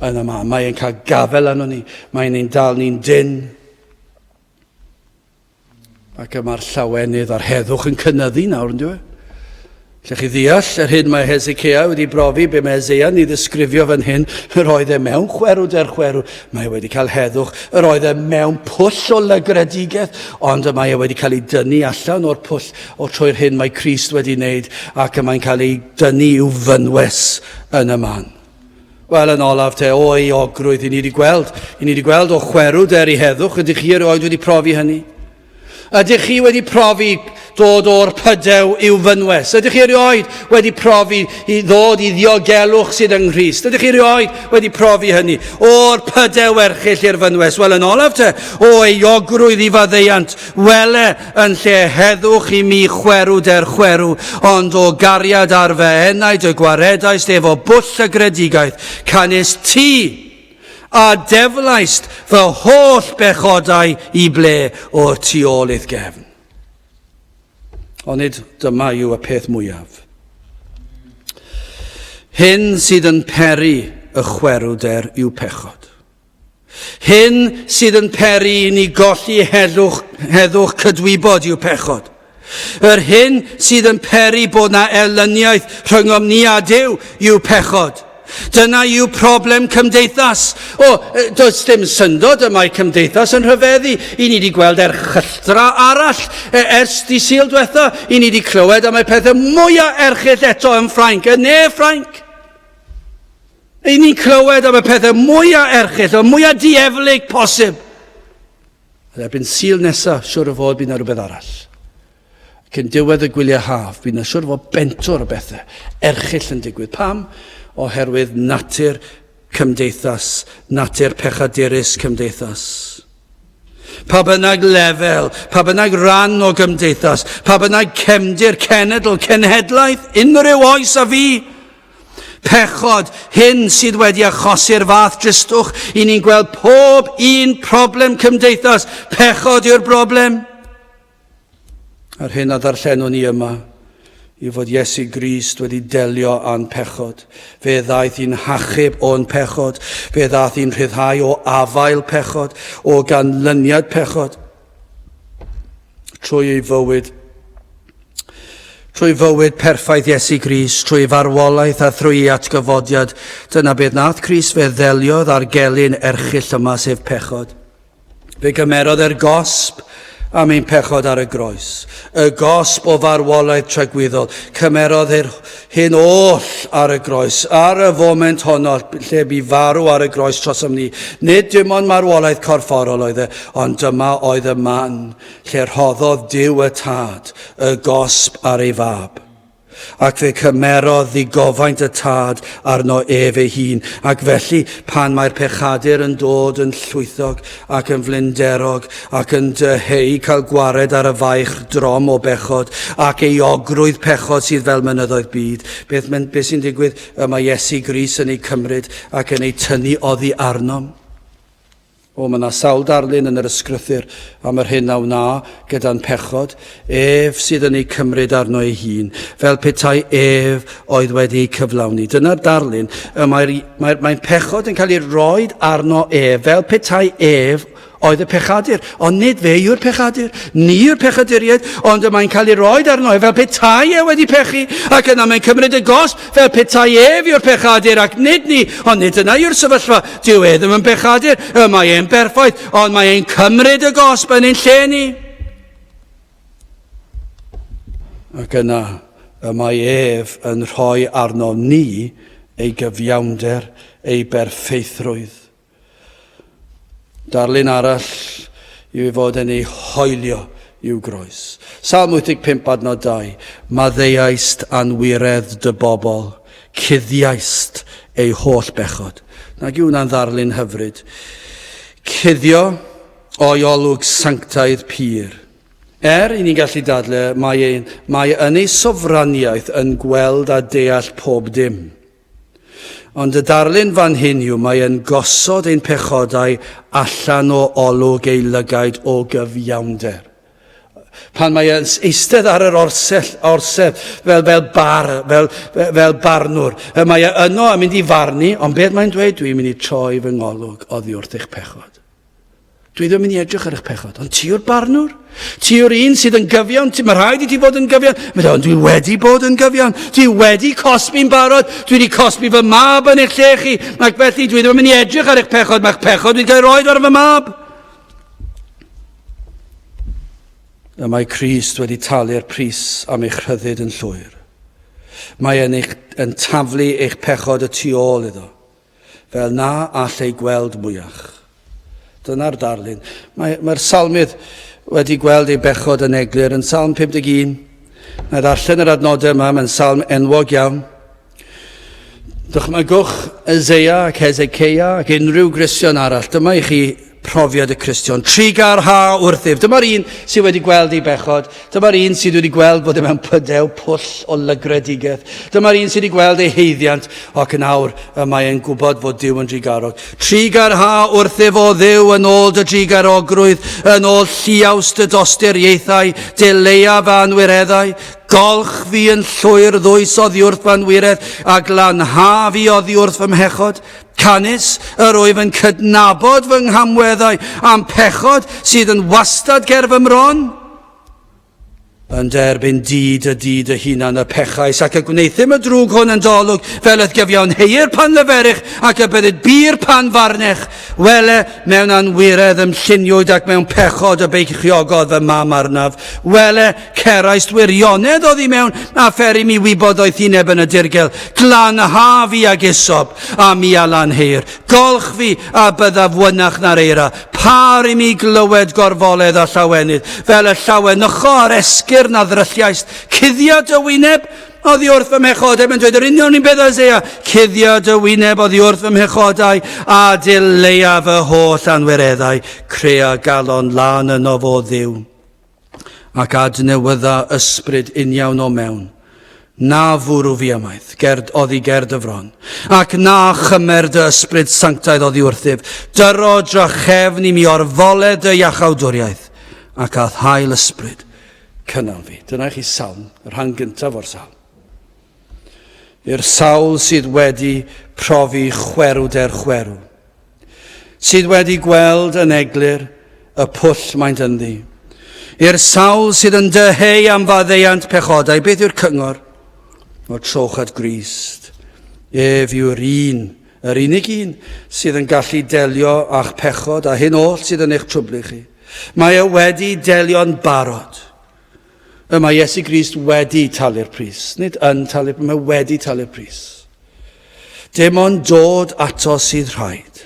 yn yma. Mae e'n cael gafel arno ni, mae'n ein dal ni'n dyn. Ac yma'r llawenydd a'r heddwch yn cynnyddu nawr, yn dweud. Lle chi ddeall, yr hyn mae Hezekiah wedi brofi be mae Isaiah ni ddisgrifio fan hyn, yr oedd e mewn chwerw der chwerw, mae e wedi cael heddwch, yr oedd e mewn pwll o lygredigaeth, ond y mae e wedi cael ei dynnu allan o'r pwll O trwy'r hyn mae Crist wedi wneud ac y mae'n cael ei dynnu i'w fynwes yn y man. Wel, yn olaf te, o euogrwydd, i ni wedi gweld, i ni wedi gweld o chwerw der i heddwch, ydych chi erioed wedi profi hynny? Ydych chi wedi profi dod o'r pydew i'w fynwes? Ydych chi erioed wedi profi i ddod i ddiogelwch sydd yng Nghyst? Ydych chi erioed wedi profi hynny? O'r pydew erchill i'r fynwes? Wel, yn olaf te, o eiogrwydd i faddeiant, wele Yn lle heddwch i mi chwerw der chwerw, ond o gariad ar fy enaid y gwaredaist efo bwll y gredigaeth, canys ti, a deflaist fy holl bechodau i ble o'r tu ôl i'th gefn. Onid dyma yw y peth mwyaf. Hyn sydd yn peri y chwerw der yw pechod. Hyn sydd yn peri i ni golli heddwch, heddwch cydwybod i'w pechod. Yr hyn sydd yn peri bod na erlyniaeth rhyngom ni a Dyw i'w pechod. Dyna yw problem cymdeithas. O, does dim syndod y mae cymdeithas yn rhyfeddu. I ni wedi gweld erchylltra arall e, ers di syl diwetha. I ni wedi clywed am y pethau mwyaf erchyll eto yn Ffrainc, yn ne Ffrainc. Ry'n ni'n clywed am y pethau mwyaf erchill, y mwyaf dieflig posib. Ond erbyn syl nesaf, siwr o fod bydd yna rhywbeth arall. Ac yn diwedd y gwyliau haf, bydd yna siwr o fod bentwr o bethau erchill yn digwydd. Pam? Oherwydd natur cymdeithas, natur pechadurus cymdeithas. Pa bynnag lefel, pa bynnag ran o gymdeithas, pa bynnag cefndir, cenedl, cenhedlaeth, unrhyw oes a fi, Pechod, hyn sydd wedi achosi'r fath dristwch i ni'n gweld pob un problem cymdeithas. Pechod yw'r broblem. A'r hyn a ddarllenwn ni yma i fod Iesu Grist wedi delio â'n pechod. Fe ddaeth i'n hachub o'n pechod. Fe ddaeth i'n rhyddhau o afael pechod, o ganlyniad pechod. trwy ei fywyd, trwy fywyd perffaith Iesu Gris, trwy farwolaeth a thrwy ei atgyfodiad, dyna beth nath Cris fe ddeliodd â'r gelyn erchill yma sef pechod. Fe gymerodd e'r gosb am ein pechod ar y groes. Y gosb o farwolaeth tragwyddol. Cymerodd, er, hyn oll ar y groes, ar y foment honno lle bu farw ar y groes trosom ni. Nid dim ond marwolaeth corfforol oedd e, ond dyma oedd y man lle rhoddodd Duw y Tad y gosb ar ei fab. Ac fe cymerodd ddigofaint y Tad arno ef ei hun, ac felly pan mae'r pechadur yn dod yn llwythog ac yn flinderog, ac yn dyheu cael gwared ar y faich drom o bechod, ac ei ogrwydd pechod sydd fel mynyddoedd byd. Beth, beth sy'n digwydd? Y mae Iesu Gris yn ei cymryd ac yn ei tynnu oddi arnom. O, mae yna sawl darlun yn yr ysgrythyr am yr hyn a wna gyda'n pechod. Ef sydd yn ei cymryd arno ei hun, fel petai ef oedd wedi ei cyflawni. Dyna'r darlun. Mae'n mae, mae, mae pechod yn cael ei roi arno ef, fel petai ef oedd y pechadur, ond nid fe yw'r pechadur, ni yw'r pechaduriaid, ond y mae'n cael ei roed arno e fel petai e wedi pechu, ac yna mae'n cymryd y gos fel petai ef yw'r pechadur, ac nid ni, ond nid yna yw'r sefyllfa, dyw e ddim yn bechadur, y mae e'n berffaith, ond mae e'n cymryd y gosb yn ein lle ni. Ac yna y mae ef yn rhoi arnom ni ei gyfiawnder, ei berffeithrwydd. Darlun arall yw ei fod yn ei hoelio i'w groes. Salm 85 adnod 2, Maddeuaist anwiredd dy bobl, cuddiaist eu holl bechod. Nag yw hwnna'n ddarlun hyfryd? Cuddio o'i olwg sanctaidd pur. Er i ni gallu dadle, mae, ein, mae yn ei sofraniaeth yn gweld a deall pob dim. Ond y darlun fan hyn yw mae yn gosod ein pechodau allan o olwg ei lygaid o gyfiawnder pan mae yn eistedd ar yr orsell, orsedd fel, fel bar, fel, fel barnwr. E, mae e yno yn mynd i farnu, ond beth mae'n dweud? Dwi'n mynd i troi fy ngolwg oddi wrth eich pechod. Dwi ddim yn mynd i edrych ar eich pechod, ond ti yw'r barnwr. Ti yw'r un sydd yn gyfiawn. Mae rhaid i ti fod yn gyfiawn. Mae dweud, ond dwi wedi bod yn gyfiawn. Dwi wedi cosbi'n barod. Dwi wedi cosbi fy mab yn eich lle chi. Ac felly, dwi ddim yn mynd i edrych ar eich pechod. Mae'ch pechod wedi cael roed ar fy mab. Y mae Christ wedi talu'r pris am eich rhyddid yn llwyr. Mae e'n, eich, yn taflu eich pechod y tu ôl iddo. Fel na all ei gweld mwyach. Dyna'r darlun. Mae'r mae salmydd wedi gweld ei bechod yn eglur yn salm 51. Na ddarllen yr adnodau yma, mae'n salm enwog iawn. Dychmygwch Ezeia ac Hezekeia ac unrhyw Gristion arall. Dyma i chi profiad y Cristion. Trigar ha wrthyf. Dyma'r un sydd wedi gweld ei bechod. Dyma'r un sydd wedi gweld bod e mewn pydew pwll o lygredigaeth. Dyma'r un sydd wedi gweld ei heiddiant, ac yn awr y mae e'n gwybod fod Dyw yn drigarog. Trigar ha wrthyf o ddiw yn ôl dy drigarogrwydd, yn ôl lliaws dy dosturiaethau, dy leiaf a anwireddau. Golch fi yn llwyr ddwys oddi wrth fy anwiredd, a glanha fi oddi wrth fy mhechod. Canys yr wyf yn cydnabod fy nghamweddau a'n pechod sydd yn wastad ger fy mron, yn derbyn dyd y dyd y hunan y pechais ac y gwneuthum y drwg hwn yn dolwg fel eth gyfiawn heir pan leferych ac y byddid bir pan farnech wele mewn anwiredd ym lluniwyd ac mewn pechod y beichiogodd fy mam arnaf wele Cerais wirionedd oddi mewn a pheri mi wybodaeth i neb yn y dirgel, glan a haf i ag esob, a mi a lan heir, golch fi a byddaf wynach na'r eira, par i mi glywed gorfoledd a llawenydd, fel y llawenycho a'r esgyrn a ddrylliaist, cuddio dy wyneb, oddi wrth fy mhechodau, mae'n dweud yr union un peth Isaiah, cuddio dy wyneb oddi wrth fy mhechodau, a dileia fy holl anwireddau, crea galon lan yno fo ddiw. ac adnewydda ysbryd uniawn o mewn, na fwrw fi amaeth, gerd oddi gerd y fron, ac na chymer dy ysbryd sanctaidd oddi wrthyf, dyro drachefn i mi o'r fole dy iachawdwriaeth, ac â thail ysbryd, cynnal fi. Dyna chi salm, y rhan gyntaf o'r salm. I'r sawl sydd wedi profi chwerw der chwerw, sydd wedi gweld yn eglur y pwll maent ynddi. I'r sawl sydd yn dyheu am faddeuant pechodau, beth yw'r cyngor? O trowch at Grist. Ef yw'r un, yr unig un, sydd yn gallu delio â'ch pechod a hyn oll sydd yn eich trwblu chi. Mae e wedi delio'n barod. Y mae Iesu Grist wedi talu'r pris, nid yn talu'r pris, mae wedi talu'r pris. Dim ond dod ato sydd rhaid.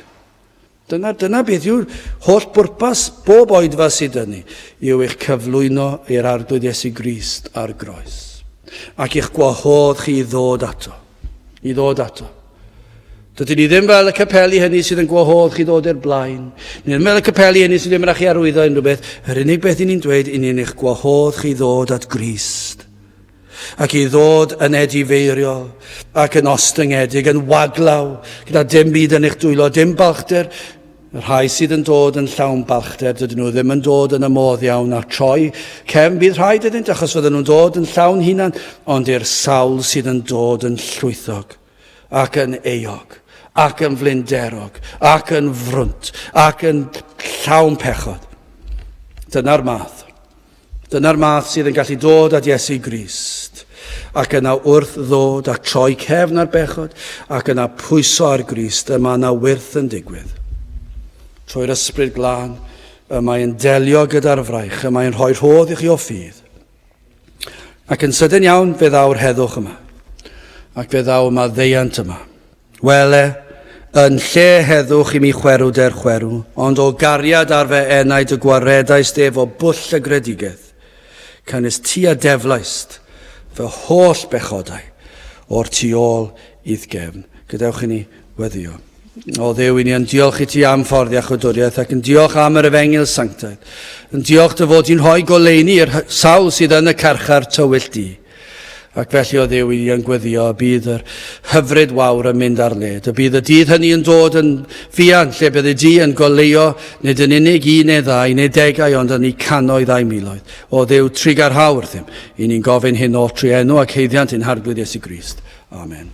Dyna, dyna beth yw holl bwrpas bob oedfa sydd dyn ni, yw eich cyflwyno i'r arglwydd Iesu Grist ar groes, ac eich gwahodd chi i ddod ato. i ddod ato. Dydyn ni ddim fel y capeli hynny sydd yn gwahodd chi ddod i'r blaen. Ni ddim fel y capeli hynny sydd ddim yn eich arwyddo unrhyw beth. Yr unig beth i ni'n dweud i ni'n eich gwahodd chi ddod at Grist ac i ddod yn edifeiriol ac yn ostyngedig, yn waglaw, gyda dim byd yn eich dwylo, dim balchder, Y rhai sydd yn dod yn llawn balchder, dydyn nhw ddim yn dod yn y modd iawn a troi cefn bydd rhaid iddynt achos fydden nhw'n dod yn llawn hunan, ond i'r sawl sydd yn dod yn llwythog ac yn eog ac yn flinderog ac yn frwnt ac yn llawn pechod. Dyna'r math. Dyna'r math sydd yn gallu dod at Iesu Grist, ac yna wrth ddod a troi cefn ar bechod, ac yna pwyso ar Grist, y mae yna wyrth yn digwydd. Trwy'r ysbryd glân, y mae'n delio gyda'r fraich, y mae'n rhoi rhodd i chi o ffydd. Ac yn sydyn iawn, fe ddaw'r heddwch yma, ac fe ddaw yma ddeiant yma. Wele, yn lle heddwch i mi chwerw der chwerw, ond o gariad ar fy enaid y gwaredaist ef o bwll y gredigeth. Canys ti a deflaist fy holl bechodau o'r tu ôl i'th gefn. Gadewch i ni weddio. O Dduw, i ni yn diolch i ti am ffordd iachwdwriaeth ac yn diolch am yr efengyl sanctaidd. Yn diolch dy fod di'n rhoi goleuni i'r sawl sydd yn y carchar tywyll di. Ac felly o ddew i yn gweddio, y bydd yr hyfryd wawr yn mynd ar led. Y bydd y dydd hynny yn dod yn fuan, lle bydd y du yn goleuo nid yn unig un neu ddau neu degau, ond yn i canoedd a'i miloedd. O ddew trigarhaw wrthym, i ni'n gofyn hyn o'r tri enw ac heiddiant yn harglwydd Iesu Grist. Amen.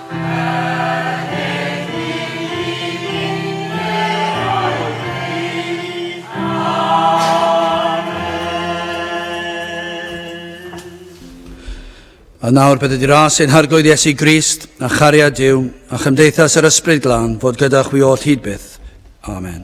A nawr bydd ydy'r as ein harglwydd Iesu Grist, a chariad Dyw, a chymdeithas yr ysbryd glân fod gyda chwi oll hyd byth. Amen.